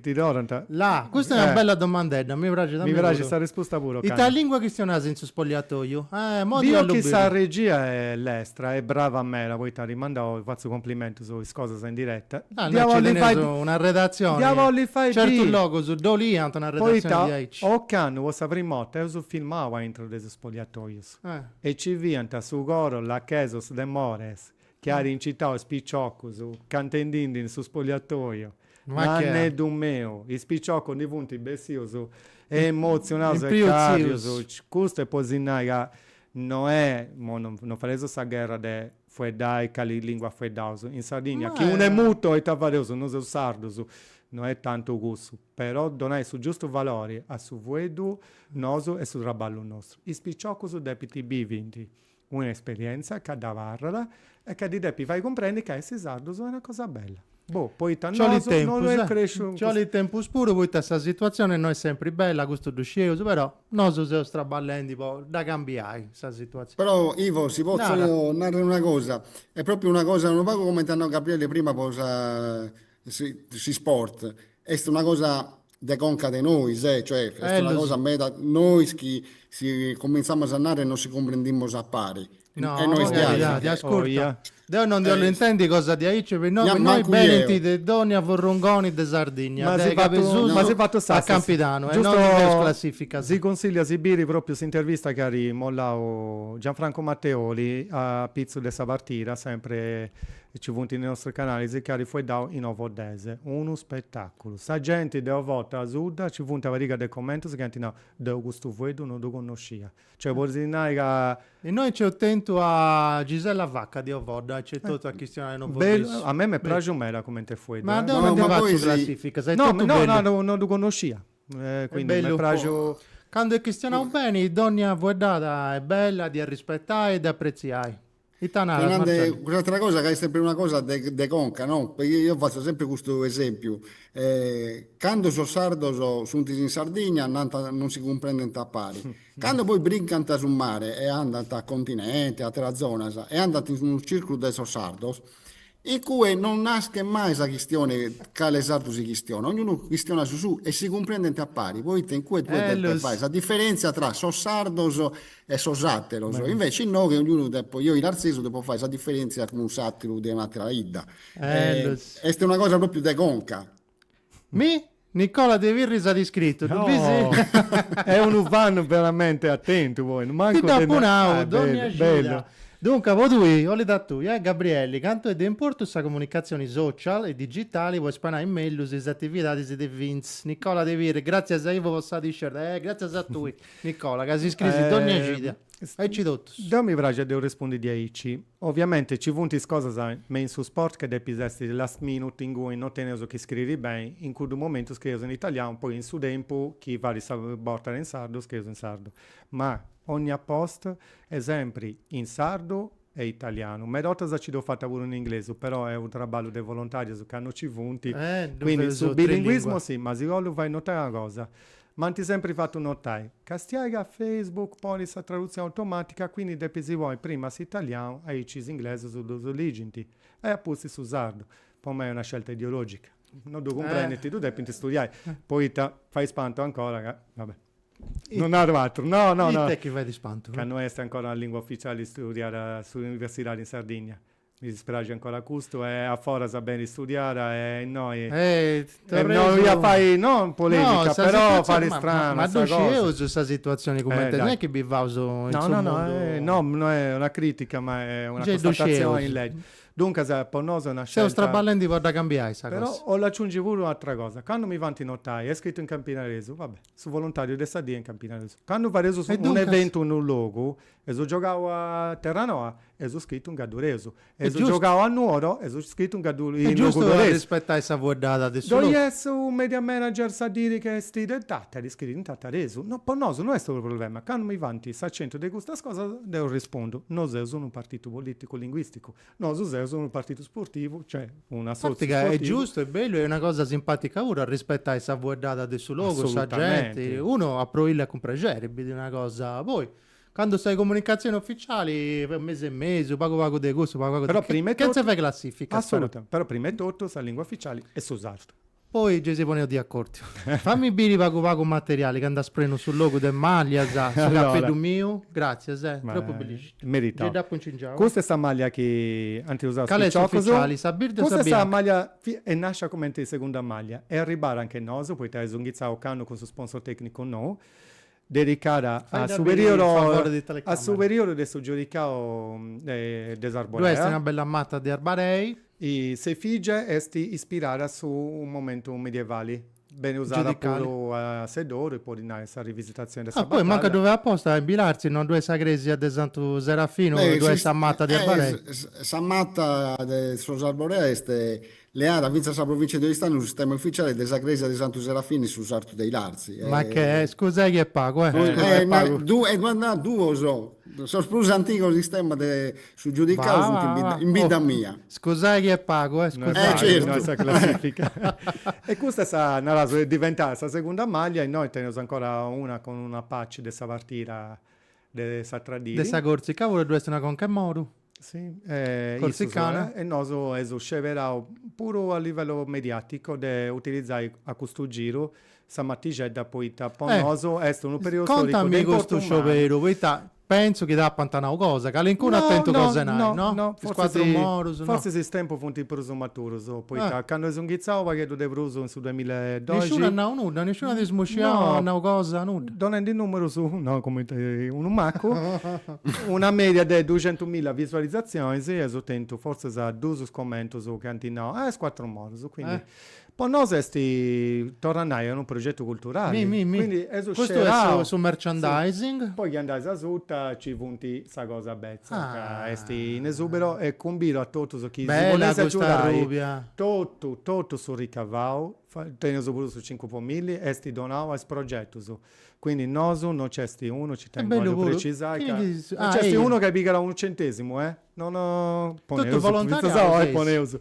Ti torrant. La! Custa est una bella domandedda, mi praxit a mei puru. Mi praxit sa rispusta puru, Cani. Ita lingua chistionas in su spoliatoiu? Eh, modi a lu biri. Biu chi sa regia est lestra e brava meda, poita at rimandau e fatzu complimentus is cosas in diretta. Ah, no, nci teneus una redatzioni. Dda bolli fai biri. Certus logus dd'oliant una redatzioni diaici. Poita ocannu po sa primu 'orta eus filmau aintru de su spoliatoius e nci fiant su coro Lachesos de Mores, Chi at incitau is piciocus cantendindi in su spogliatoiu, Nanneddu meu, is piciocus ndi funt bessius emozionaus e càrrius, custu est po si nai ca no est, mo non fadeus sa gherra de fueddai cali lingua fueddaus, in Sardigna chi unu est mutu o ita fadeus, no seus sardus, no est tantu cussu, però donai su giustu valori a su fueddu nosu est su traballu nostru, is piciocus depint bivi ndi. Una esperienza ca dd'abarrat e ca ddi depit fai cumprendi ca essi sardus est una cosa bella. Boh, poita nosu no lu est cresciu in cussu. Ci 'olit tempus puru poita sa situatzioni no est sempri bella, custu ddu scieus, però nosu seus traballendi po dda cambiai sa situatzioni. Però Ivo, si potzu narri una cosa, est propriu una cosa unu pagu cumenti at nau Gabriele prima po sa S'isport est una cosa de conca de nois, cioè est una cosa meda nois chi si cumintzamus a narrer non si cumprendimus a pari. No, moghe, ascurta, deo non ndi 'ollu intendi cosa diaici, po innoi, po innoi benint de dònnia furrungoni de Sardigna, dae Cabesusu a Campidanu, e non nc'est classifica. Si cunsigliaus de biri pròpriu s'intervista chi at mollau Gianfranco Matteoli apitzus de sa partida, sempre E ci funt in is nostrus canalis chi at fueddau in ovoddesu. Unu spetàculu. Sa genti de Ovodda, asuta ci funt una pariga de commentus chi ant nau, Deu custu fueddu no ddu connoscia. Cioè podis nai ca. Innoi nc'eus tentu a Gisella Vacca de Ovodda aici etotu a chistionai in ovoddesu. A mei m'est praxiu meda cumenti fueddu. Ma deu no ndi fatzu classificas, est totu bellu. No, no, no ddu connoscia. Quindi m'est praxiu. Candu est chistionau beni, dònnia fueddada est bella, de arrispetai e de apretziai. Ita naras Marcello? Ita naras? Cuss'atera cosa ca est sempre una cosa de de conca, no? Eo fatzo sempre custu esempiu, cando sos sardos sunt in Sardigna nant non si cumprendent a pari, cando poi brincant su mare e andant a continente, a ateras zonas e andant in unu circulu de sos sardos, In cue non naschet mai sa chistione cale sardu si chistionat, ognunu chistionat su suu e si cumprendent a pari, poita in cue tue depes fai sa diferentzia tra sos sardos e sos ateros, invece inoghe ognunu depo, eo ilarzesu depo fai sa diferentzia cun s'ateru de un'atera 'idda. Est una cosa propriu de conca. Mi? Nicola de Pirri s'at iscritu, ddu bisi? Est unu fan veramente atentu poi, mancu de. Ti dd'apu nau, dònnia cida. Duncas, po tui, 'olit a tui, eh? Gabrielli, cantu est de importu sa comunicatzioni social e digitali po ispanai mellus is atividadis de FINS. Nicola de Pirri, gratzias a Ivo po sa t-shirt. Eh, gratzias a tui, Nicola, ca s'iscriis dònnia cida. Aici totus. Deu mi praxit de ddu respondi diaici. Oviamente ci funt is cosas me in su sport che depis essi last minute ingui no teneus chi scriri beni, in cuddu momentu scrieus in italianu poi in su tempu chi faris sa bortada in sardu scrieus in sardu, ma onnia post est sempri in sardu e italianu, meda ortas ci dd'ho fatta puru in inglesu però est u traballu de volontarius ca no ci funt, quindi su bilinguismo si, ma si 'ollu fai notai una cosa, M'ant sempri fatu notai castiai ca Facebook ponit sa tradutzioni automàtica quindi depis ponni prima s'italianu aici is inglesus ddus ligint e apustis su sardu. Po mei est una scelta ideològica, no ddu cumprendint, ddu depint studiai poita fait ispantu ancora ca, va bè, no naru atrus, no no no, ite chi fait ispantu? ca no est ancora una lingua ufitziali studiada in s'universidadi in Sardìnnia, Mi dispraxit ancora custu e a foras benit istudiada e innoi e innoi a fai no polemica però parit strana ma ddu scieus sa situazioni cumenti est non est chi bivaus in su mundu no no no est una critica ma est una constatazioni in leggi duncas po nosu est una scelta seus traballendi po dda cambiai sa cosa però 'ollu aciungi puru u' atra cosa candu mi faint notai est scritu in campidanesu va bè su voluntariu de sa die in campidanesu candu fadeus un eventu in unu logu Eus giogau a Terranoa, eus scritu in gadduresu. Eus giogau a Nuoro, eus scritu in gadduresu. Est giustu arrispetai sa fueddada de su logu. Ddoi est su media manager sa diri ca est de Tàtari, scririt in tataresu. No, po nosu no est unu problema. Candu mi faint s'acentu de custas cosas deu rispondu, no seus unu partitu politicu linguisticu, nosu seus unu partitu sportivu, cioè un assòtziu sportivo. Est giustu, est bellu est una cosa simpatica puru arrispetai sa fueddada de su logu, sa genti. Unu aproillat cun prexeri biri una cosa poi. Candu sa comunicatzioni oficiali, mesu e mesu, pagu pagu de cussu, pagu pagu de cussu, chenze fai classificas. Assolutamente, però prima e totu sa lingua oficiali est su sardu. Poi gei si poneus de acòrdiu. Fami biri pagu pagu materiali ca nd'as prenu su logu de màllias, su capeddu miu, gràtzias, eh, tropu bellisci. Meritau. Gei dd'apu incingiau. Custa est sa màllia chi ant usau is piciocus. Cali est oficiali, sa birdi o sa bianca? Custa est sa màllia, est nàscia cumenti segunda màllia e arribada a nche nosu, poita eus inghitzau ocannu cun su sponsor tècnicu nou, Dedicada a su perìodu a su perìodu de su giudicau de s'Arborèa. Ddu est una bella mata de Arbarèi. S'efìgie est ispirada a su momentu medievali. Benit usada puru a Seddoru, po ti nai, in sa rivisitazioni de sa batalla. Ah, poi mancu a ddu fai aposta, in Bilartzi no ddu est sa crèsia de Santu Serafinu, ddu est sa mata de Arbarèi? Sa mata de sos Arborèa est Leada fintzas sa provìntzia de Oristanu su stemma ufitziale de sa crèsia de Santu Serafini in su sartu de Ilartzi e. Ma che, scusai chi est pagu, eh. Scusai est pagu. E duas na, duos, sos prus antigos istemmas de su giudicau sunt in bidda, in bidda mia. Scusai chi est pagu, eh, scusai. Eh certu. No est sa classifica. E custa est sa, naraus, est diventada sa segunda maglia, innoi teneus ancora una cun una patch de sa partida de s'atra dì. De sa Corsica puru e ddu est una conca 'e moru. corsicana e nosu eus sceberau puru a livellu mediaticu de utilizai a custu giru sa matixedda poita po nosu est unu periudu storicu de importu mannu. Contami custu scioberu poita pentzu chi t'apant nau cosa, calincunu at tentu cosa nai, no? No, no, forsis is tempus funt prus maturus poita candu eus inghitzau u' pagheddu de prus in su duamilla e doxi. Nisciunu at nau nudda, nisciunu at ismosciau, at nau cosa, nudda? Donendi numerus no, cumenti unu macu. una mèdia de duxentumilla visualizatzionis e eus tentu fortzis duus commentus chi ant nau is cuatru morus, quindi po nosu est, torru a nai, est unu progetu culturali, quindi eus scerau, custu est su merchandising, poi chi andais asuta nci funt sa cosa betza ca est in esubero e cumbidu a totus chi si bolessint agiudai totu totu su ricavau, teneus puru su cincu po milli, est donau a is progetus. Quindi nosu no c'est unu, ci tengu a ddu precisai ca no c'est unu ca pigat unu centesimu e non poneus fintzas a oi poneus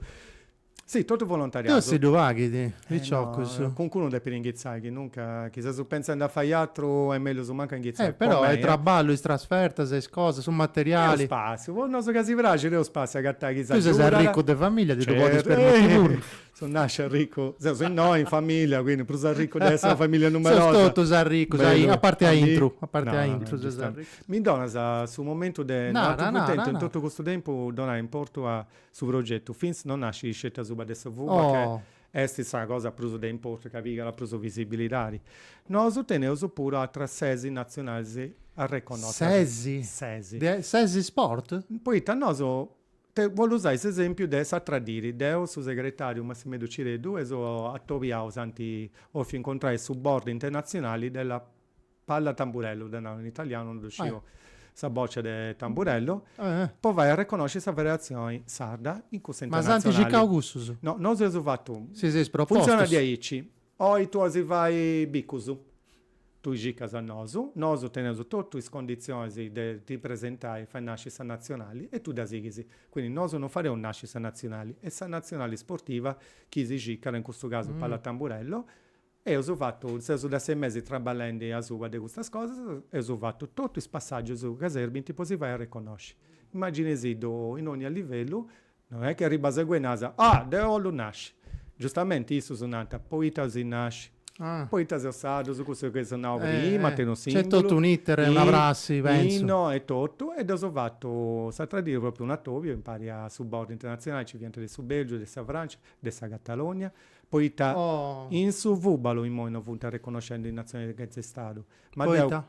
si totu volontariau Deus si ddu paghit piciocus no cuncunu depit inghitzai chi nunca chi seus pentzendi a fai atru est mellus mancu a inghitzai po mei però est traballu is trasfertas is cosas su materiali est spàssiu po nosu ca si praxit est spàssiu a agatai chi s'agiudat tui ses arricu de familia ti ddu podis permitti puru So nàsciu arricu, seus innoi in famìllia, quindi prus arricu de essiri una famìllia numerosa. Seus totus arricus, a parti a intru, a parti a intru seus arricus. Mi donas su momentu de no atu cuntentu in totu custu tempu donai importu a su progetu, FINS no nascit sceti asuba de su fubalu ca est sa cosa prus de importu ca pigat prus visibilidadi. Nosu teneus puru atras ses natzionalis arreconnotas. Ses? Ses. De ses sport? Poita nosu Ti bollu usai s'esempiu de s'atra diri. Deu, su segretariu Massimeddu Cireddu eus atobiau, s'anti bofiu incontrai su Board Internazionali della Palla Tamburello, ddu naru in italianu, non ddu sciu sa boccia de tamburello, po fai arreconosci sa federazioni sarda in cussa internazionali. Ma s'anti circau cussus? No, nosu eus fattu. Si seis propostu. Funzionat diaici. Oi tui bolis fai bicus. Tui cicas a nosu, nosu teneus totu is conditzionis de ti presentai fai nasci sa natzionali e tui dda sighis. Quindi nosu non fareus nasci sa natzionali, est sa natzionali sportiva chi si cicat, in custu casu Pallatamburello, eus fatu, seus de sei mesi traballendi asuba de custas cosas, eus fatu totu is passaggius ca serbint po si fai arreconnosci. Immaginaisiddu in ogni livellu No est chi arribas inguni e nas, Ah! deu 'ollu nasci! Giustamenti issus nant, Poita bolis nasci? Poita seis sardus, cussu chi eus nau prima, at unu simbulu. Nc'est totu un'iter e una prassi, pensu. Inno e totu, e dd'eus fatu s'atra dì propriu un'atobiu impari a su board internatzionali, nci fiant de su Belgiu, de sa Francia, de sa Catalogna, poita in su fubalu immoi no funt arreconnoscendi is natzionis chentza istadu. Ma deu. Poita?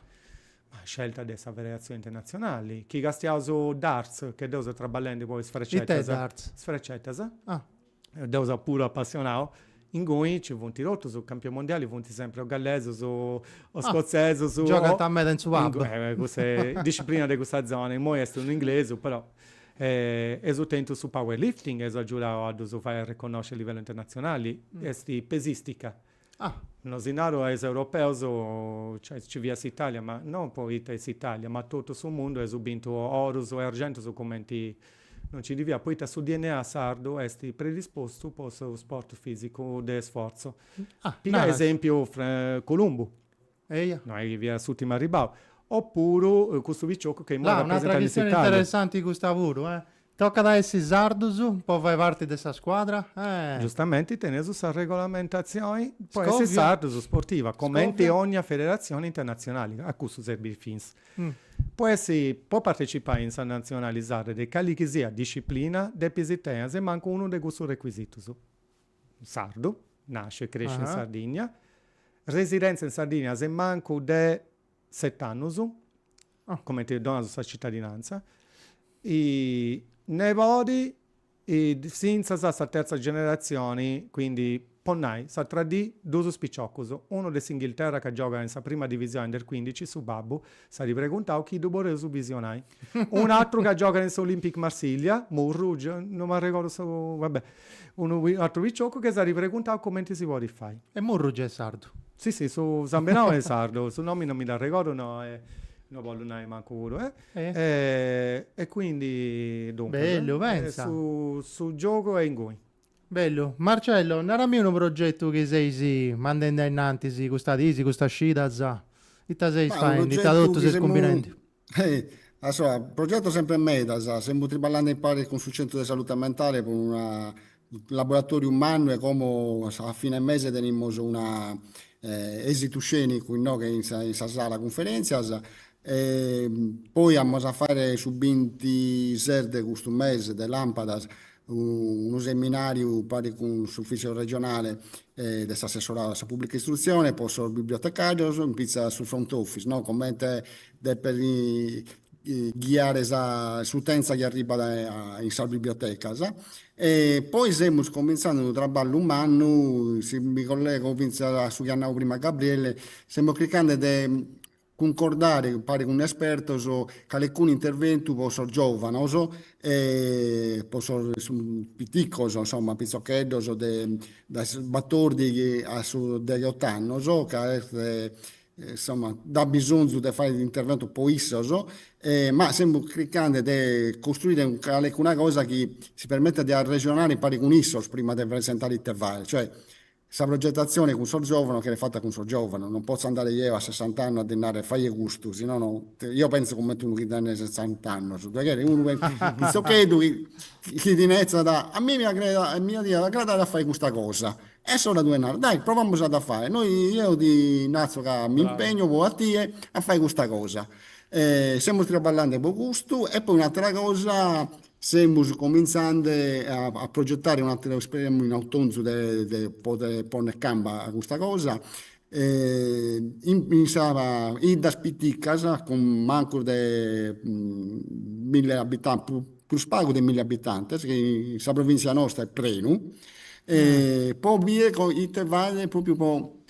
Ma scelta de sa Federatzioni Internatzionali, chi castiaus su darts, chi deu seu traballendi po is frecetas. Ite darts? Is frecetas. Ah. Deu seu puru apassionau. Inguni nci funt totus is campionis mondiali, funt sempri o gallesus o scotzesus o. Ah. Giogant meda in su pub. Cussa disciplina de cussa zona. Immoi est unu inglesu, però. Eus tentu su power lifting, eus agiudau a ddus fai arreconnosci a livellu internatzionali. Est pesistica. Ah! No si naru a is europeus, cioè nci fiat s'Italia, ma non poita est s'Italia, ma totu su mundu eus bintu orus e argentus cumenti no nci ndi fiat, poita su dna sardu est predispostu po su sport fisicu de sforzu. Ah! Naras. Pigai esempiu Columbu. Eja. No est chi fiat s'ùrtimu arribau. Opuru custu piciocu chi imoi rapresentat s'Italia. Là, un'atra chistioni interessanti custa puru, eh! Tocat a essi sardus po fai parti de sa scuadra? Eh! Giustamenti teneus sa regolamentazioni po essi sardus sportiva, comenti ogna federazioni internazionali, a custu serbit FINS. Po essi, po partecipai in sa nazionali sarda de cali chi siat disciplina, depis tenni a su mancu unu de custus requisitus. sardu, nasciu e cresciu in Sardìnnia, residèntzia in Sardìnnia se mancu de set'annus, cumenti donant sa citadinantza, nebodi fintzas a sa terza generatzioni, quindi po nai s'atra dì duus piciocus, unu de s'Inghilterra ca giogat in sa prima divisioni under cuindici, su babbu, S'at preguntau chi ddu podeus bisionai. Un'atru ca giogat in s'Olympic Marsiglia, Murru, no m'arregordu su, va bè, unu atru piciocu ca s'at preguntau cumenti si podit fai. E Murru giai sardu? Si si, su Sambenau est sardu, su nomini non mi dd'arregordu no e no bollu nai mancu puru e e quindi duncas, bellu, pentza, su giogu est inguni. Bellu. Marcello, narami unu progetu chi seis mandendi ainnantis custa disi, custas cidas, ita seis faendi, ita totu seis cumbinendi? Ma, progetos sempre medas, semus triballande impare cun su centru de salute mentale pro unu laboratòriu mannu e como a fine mese tenimus unu èsitu scènicu innoghe in sa sala cunferenzias, E poi amus a fàere su bintises de custu mese de Làmpadas unu seminàriu paris cun s'ufìtziu regionale de s'assessoradu a sa pùblica istrutzione po sos bibliotecàrios in pitza a su front office, no, comente depent ghiare s'utenza chi arribat in sas bibliotecas. E poi semus comintzande unu traballu mannu, si mi collego fintzas a su chi at nau prima Gabriele, semus chircande de cuncordare impare cun espertos calecunu interventu po sos giòvanos e po sos piticos, insomma, pitzocheddos dae su batordighi a su deghiot'annos, ca est, insomma, nd'at bisonzu de fàere interventos po issos, ma semus chircande de costruire calecuna cosa chi si permitat de arresonare impare cun issos prima de presentare ite fàere, cioè Sa progetatzione cun sos giòvanos cheret fata cun sos giòvanos, non potzo andare eo a sessant'annos a ddi narrer faie custu, si nono, eo pentzo comente unu chi tenet sessant'annos, ddoe cheret unu pitzocheddu chi chi ti nertzat, a mie mi iat a agradare a fai custa cosa, insara tue ddi naras, dai provamus a dda fai, noi, eo ti narzo ca mi impegno po a tie a fai custa cosa, semus traballende po custu e poi un'atera cosa Semus comintzande a progetare un'ateru esperemu in Autonzu de de poder ponnere camba a custa cosa in sas 'iddas piticas cun mancus de mille abitantes, prus pagu de mille abitantes chi in sa provintzia nostra est prenu po bìdere ite faghere propriu po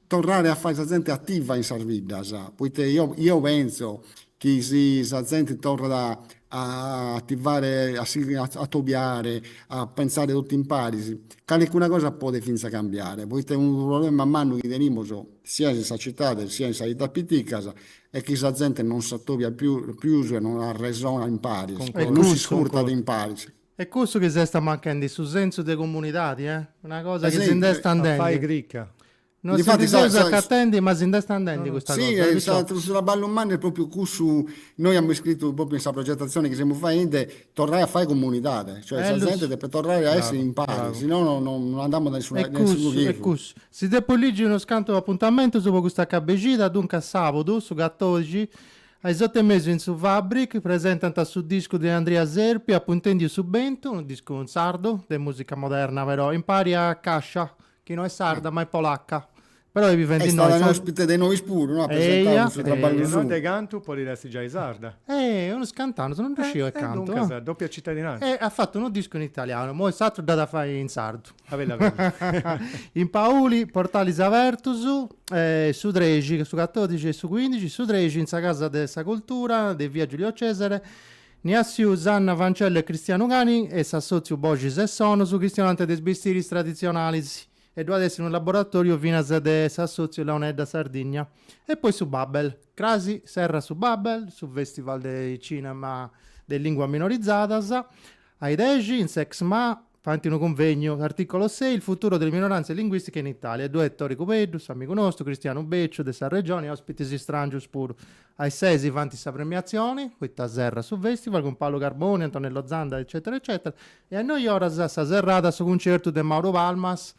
torrare a fai sa zente attiva in sas biddas, poite eo penzo chi si sa zente torrat a attivare a si atobiare a pensare totu imparis calicuna cosa podet finza cambiare, poite unu problema mannu chi tenimus siat in sa cittade siat in sas 'iddas piticas est chi sa zente non s'atobiat pius e non arresonat imparis, non s'iscurtat imparis E cussu chi si est amanchendi su sensu de comunidadi, eh? Una cosa chi si nd'est andendi. Non si ndi seus acatendi, ma si nd'est andendi custa cosa. Si, sa, su traballu mannu est propriu cussu, noi amus iscritu propriu in sa progetatzioni chi semus faendi, torrai a fai comunidadi, cioè sa zente depet torrai a essi in pari, si no no non andamus de nessuna, de nessunu chirru. E cussu, e cussu. Si depu ligi unos cantu apuntamentus po custa cabexida, duncas sabadu, su catorixi, A is otu e mesu in su Fabric presentant su discu de Andria Serpi Apu intendiu mesu bentu, unu discu in sardu, de musica moderna però, impari a Cascia, chi no est sarda ma est polacca. Però bivit innoi. Est stada in ospite de nois puru, no, at presentau su traballu suu. Eia, eia. De innoi a cantu podit essi giai sarda? Eh, unus cantu annus, no ddu sciu e cantu. E duncas, doppia cittadinanza. E at fatu unu discu in italianu, imoi s'atru dd'at a fai in sardu. In Pauli, portalis abertus, su trexi, su catòdixi e su cuìndixi, su trexi in sa Casa de sa Cultura de via Giulio Cesare, Niassiu Sanna Fancello e Cristianu Cani e s'assòtziu Boxis e Sonus chistionant de is bistiris traditzionalis e ddu at essi unu laboratòriu finas de s'assòtziu Launeddas Sardigna. E poi su Babel. Crasi serrat su Babel, su fèstival de cinema de lìnguas minorizadas, a is dexi in s'ExMa Faint unu cunvegnu, s'artìcolo sei, Il futuro delle minoranze linguistiche in Italia, ddoe est Tore Cubeddu, s'amigu nostru, Cristianu Becciu, de sa Regioni, e òspitis istràngius puru. A is ses si faint sa premiatzioni, poita serrat su fèstival, cun Paolo Carboni, Antonello Zanda, eccetera eccetera, e a is noi oras sa serrada su cuncertu de Mauro Palmas,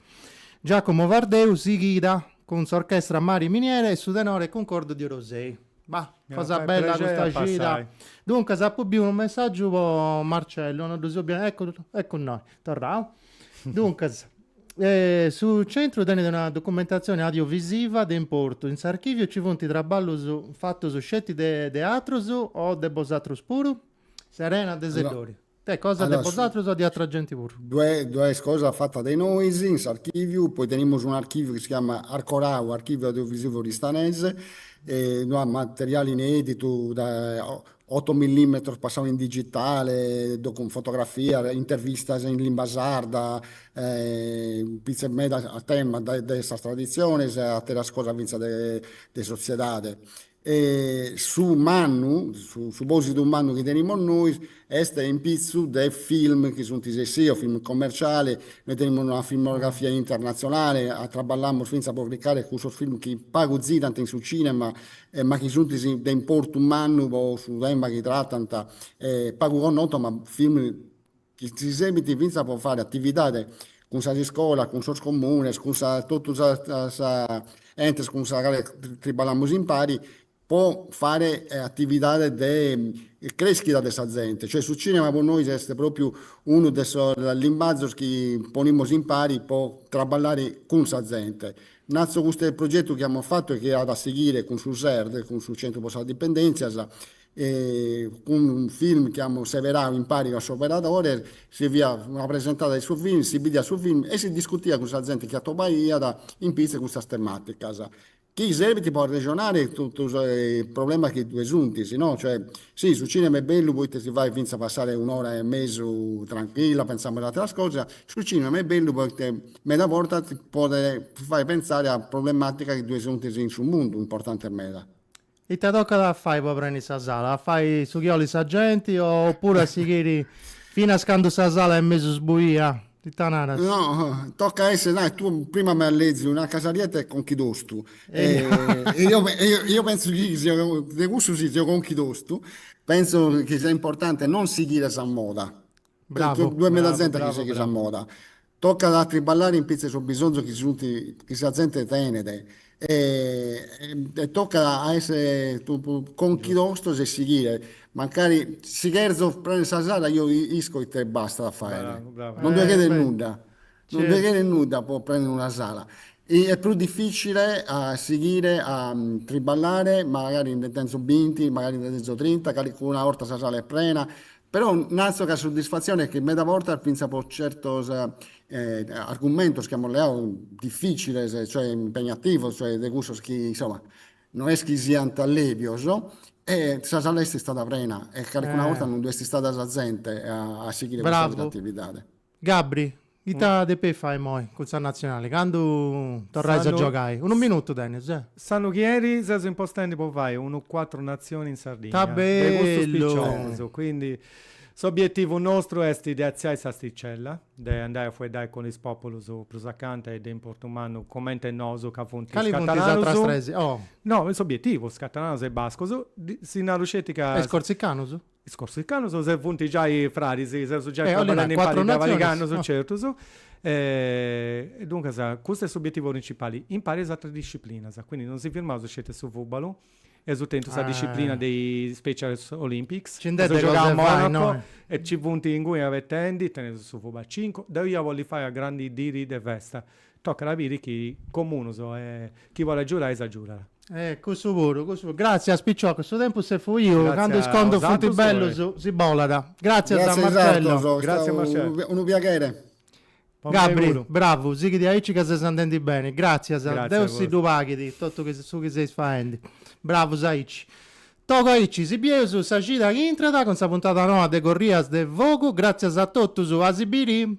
Giacomo Vardeu, sighida cun s'orchestra Mare e Miniere e su tenore Cuncordu de Orosei. Bah, cosa bella custa cida. Duncas apu biu unu messaggiu po Marcello, no ddu sciu, bia. Eccu, eccu innoi, torrau. Duncas, eh, su centru tenit una documentatzioni audiovisiva de importu. In s'archiviu ci funt traballus fatus sceti de de atrus o de bosatrus puru? Serena de Seddori. Est cosa de bosatrus o de atra genti puru? Ddoe est cosa fata de nois in s'archìviu, poi tenimus un archìviu chi si chiamat Arcorau, Archivio Audiovisivo Oristanese, e ddu at materiali ineditu da otto millimetros passau in digitale, fotografias, intervistas in limba sarda, pitzus meda a tema de sas traditziones e ateras cosas fintzas de sotziedade. E su mannu, su posidu mannu chi tenimus nois est in pitzu de film chi sunt essios film commerciali, nois tenimus una filmografia internatzionali, traballamus fintzas po cricare cussus film chi pagu zirant in su cinema ma chi sunt de importu mannu po su tema chi tratant, pagu connotus ma film chi si serbint fintzas po faghere atividade cun sas iscolas, cun sos comunes, cun totu sos entes cun sa cale triballamus impari po faghere atividades de creschida de sa zente, cioè su cinema po nois est propriu unu de sos limbazos chi ponimus impari po traballare cun sa zente. Natzo custu progetu chi amus fatu e chi at a sighire cun su SERD, cun su Centru po sas Dipendèntzias, e cun unu film chi amus seberadu impari cun s'operadore, si fiat una presentada de su film, si bidiat su film e si discutiat cun sa zente chi atobaiat in pitzus custas tematicas, chi serbint po arrexonare totu is problemas chi ddue sunt, si no, cioè, si su cinema est bellu poita si fait fintzas passare un'ora e mesu tranchilla pentzendi a ateras cosas, su cinema est bellu poita meda bortas ti podet fai pentzare a problematicas chi ddue sunt in su mundu, importantes meda Ita tocat a fai po prendi sa sala? A fai su chi olit sa genti o puru a sighiri finas candu sa sala est mesu sbuia? Ita naras? No, tocat a essi, nai, tue prima m'has leziu una casarietta e conchi tostu e e io penzu chi de cussu si seo conchi tostu penzu chi sia importanti non sighiri a sa moda, ddu est meda zente chi sighit sa moda Tocat a triballare in pitzu 'e sos bisonzos chi sunt, chi sa zente tenet e tocat a essere conchi tostos e sighire, mancari si cherzo prender sa sala io isco ite bastat a fagher, non ddue cheret nudda, non ddue cheret nudda po prender una sala, est prus difficile a sighire a triballare magari nde tenzo binti, magari nde tenzo trinta, calicuna 'orta sa sala est prena, Però natzo ca suddisfatzione est chi meda bortas fintzas po certos argumentos chi amus leadu difiziles, cioè impegnativos, cioè de cussos chi insoma no est chi siant lebios, sa sala est istada prena e calicuna borta non ddu est istada sa zente a sighire custu tipu de attividade. Gabri, ita depeis fai immoi cun sa natzionali, candu torrais a giogai? Unu minutu tenis, eh! S'annu chi enit seus impostendi po fai unu cuatru natzioni in Sardigna, de custus piciochus, quindi s'obietivu nostru est de atziai s'asticella, de andai a fueddai cun is populus prus acanta e de importu mannu coment'e nosu ca funt is catalanus, no, is obietivu, is catalanus e is bascus, si naru sceti ca. E is corsicanus? Is corsicanos nos funt giai fraris, seus giai traballendi impari de paricius annus, certus. E duncas custu est s'obietivu principali, impari is ateras disciplinas, quindi non si firmaus sceti a su fubalu, eus a tenni sa disciplina de is special olympics, seus giogau a Monaco e nci funt inguni puru abetendi, teneus su fùbalu a cincu, deu ia a bolli fai una grandu dì de festa, Tocat a biri chi Comunus e chi bolet giurai s'agiudat. E cussu puru, cussu puru. Gràtzias piciocos, su tempus est fuiu, candu is contus funt bellus si bolat. Gràtzias a Marcello. Gràtzias a Marcello, est stadu unu piaghere. Gabri, bravu, sighi aici ca ses andendi beni. Gràtzias, Deus si ddu paghit totu su chi seis faendi. Bravus aici. Togu aici, si bieus sa cida chi intrat cun sa puntada noa de Corrias de Fogu. Gràtzias a totus, a si biri!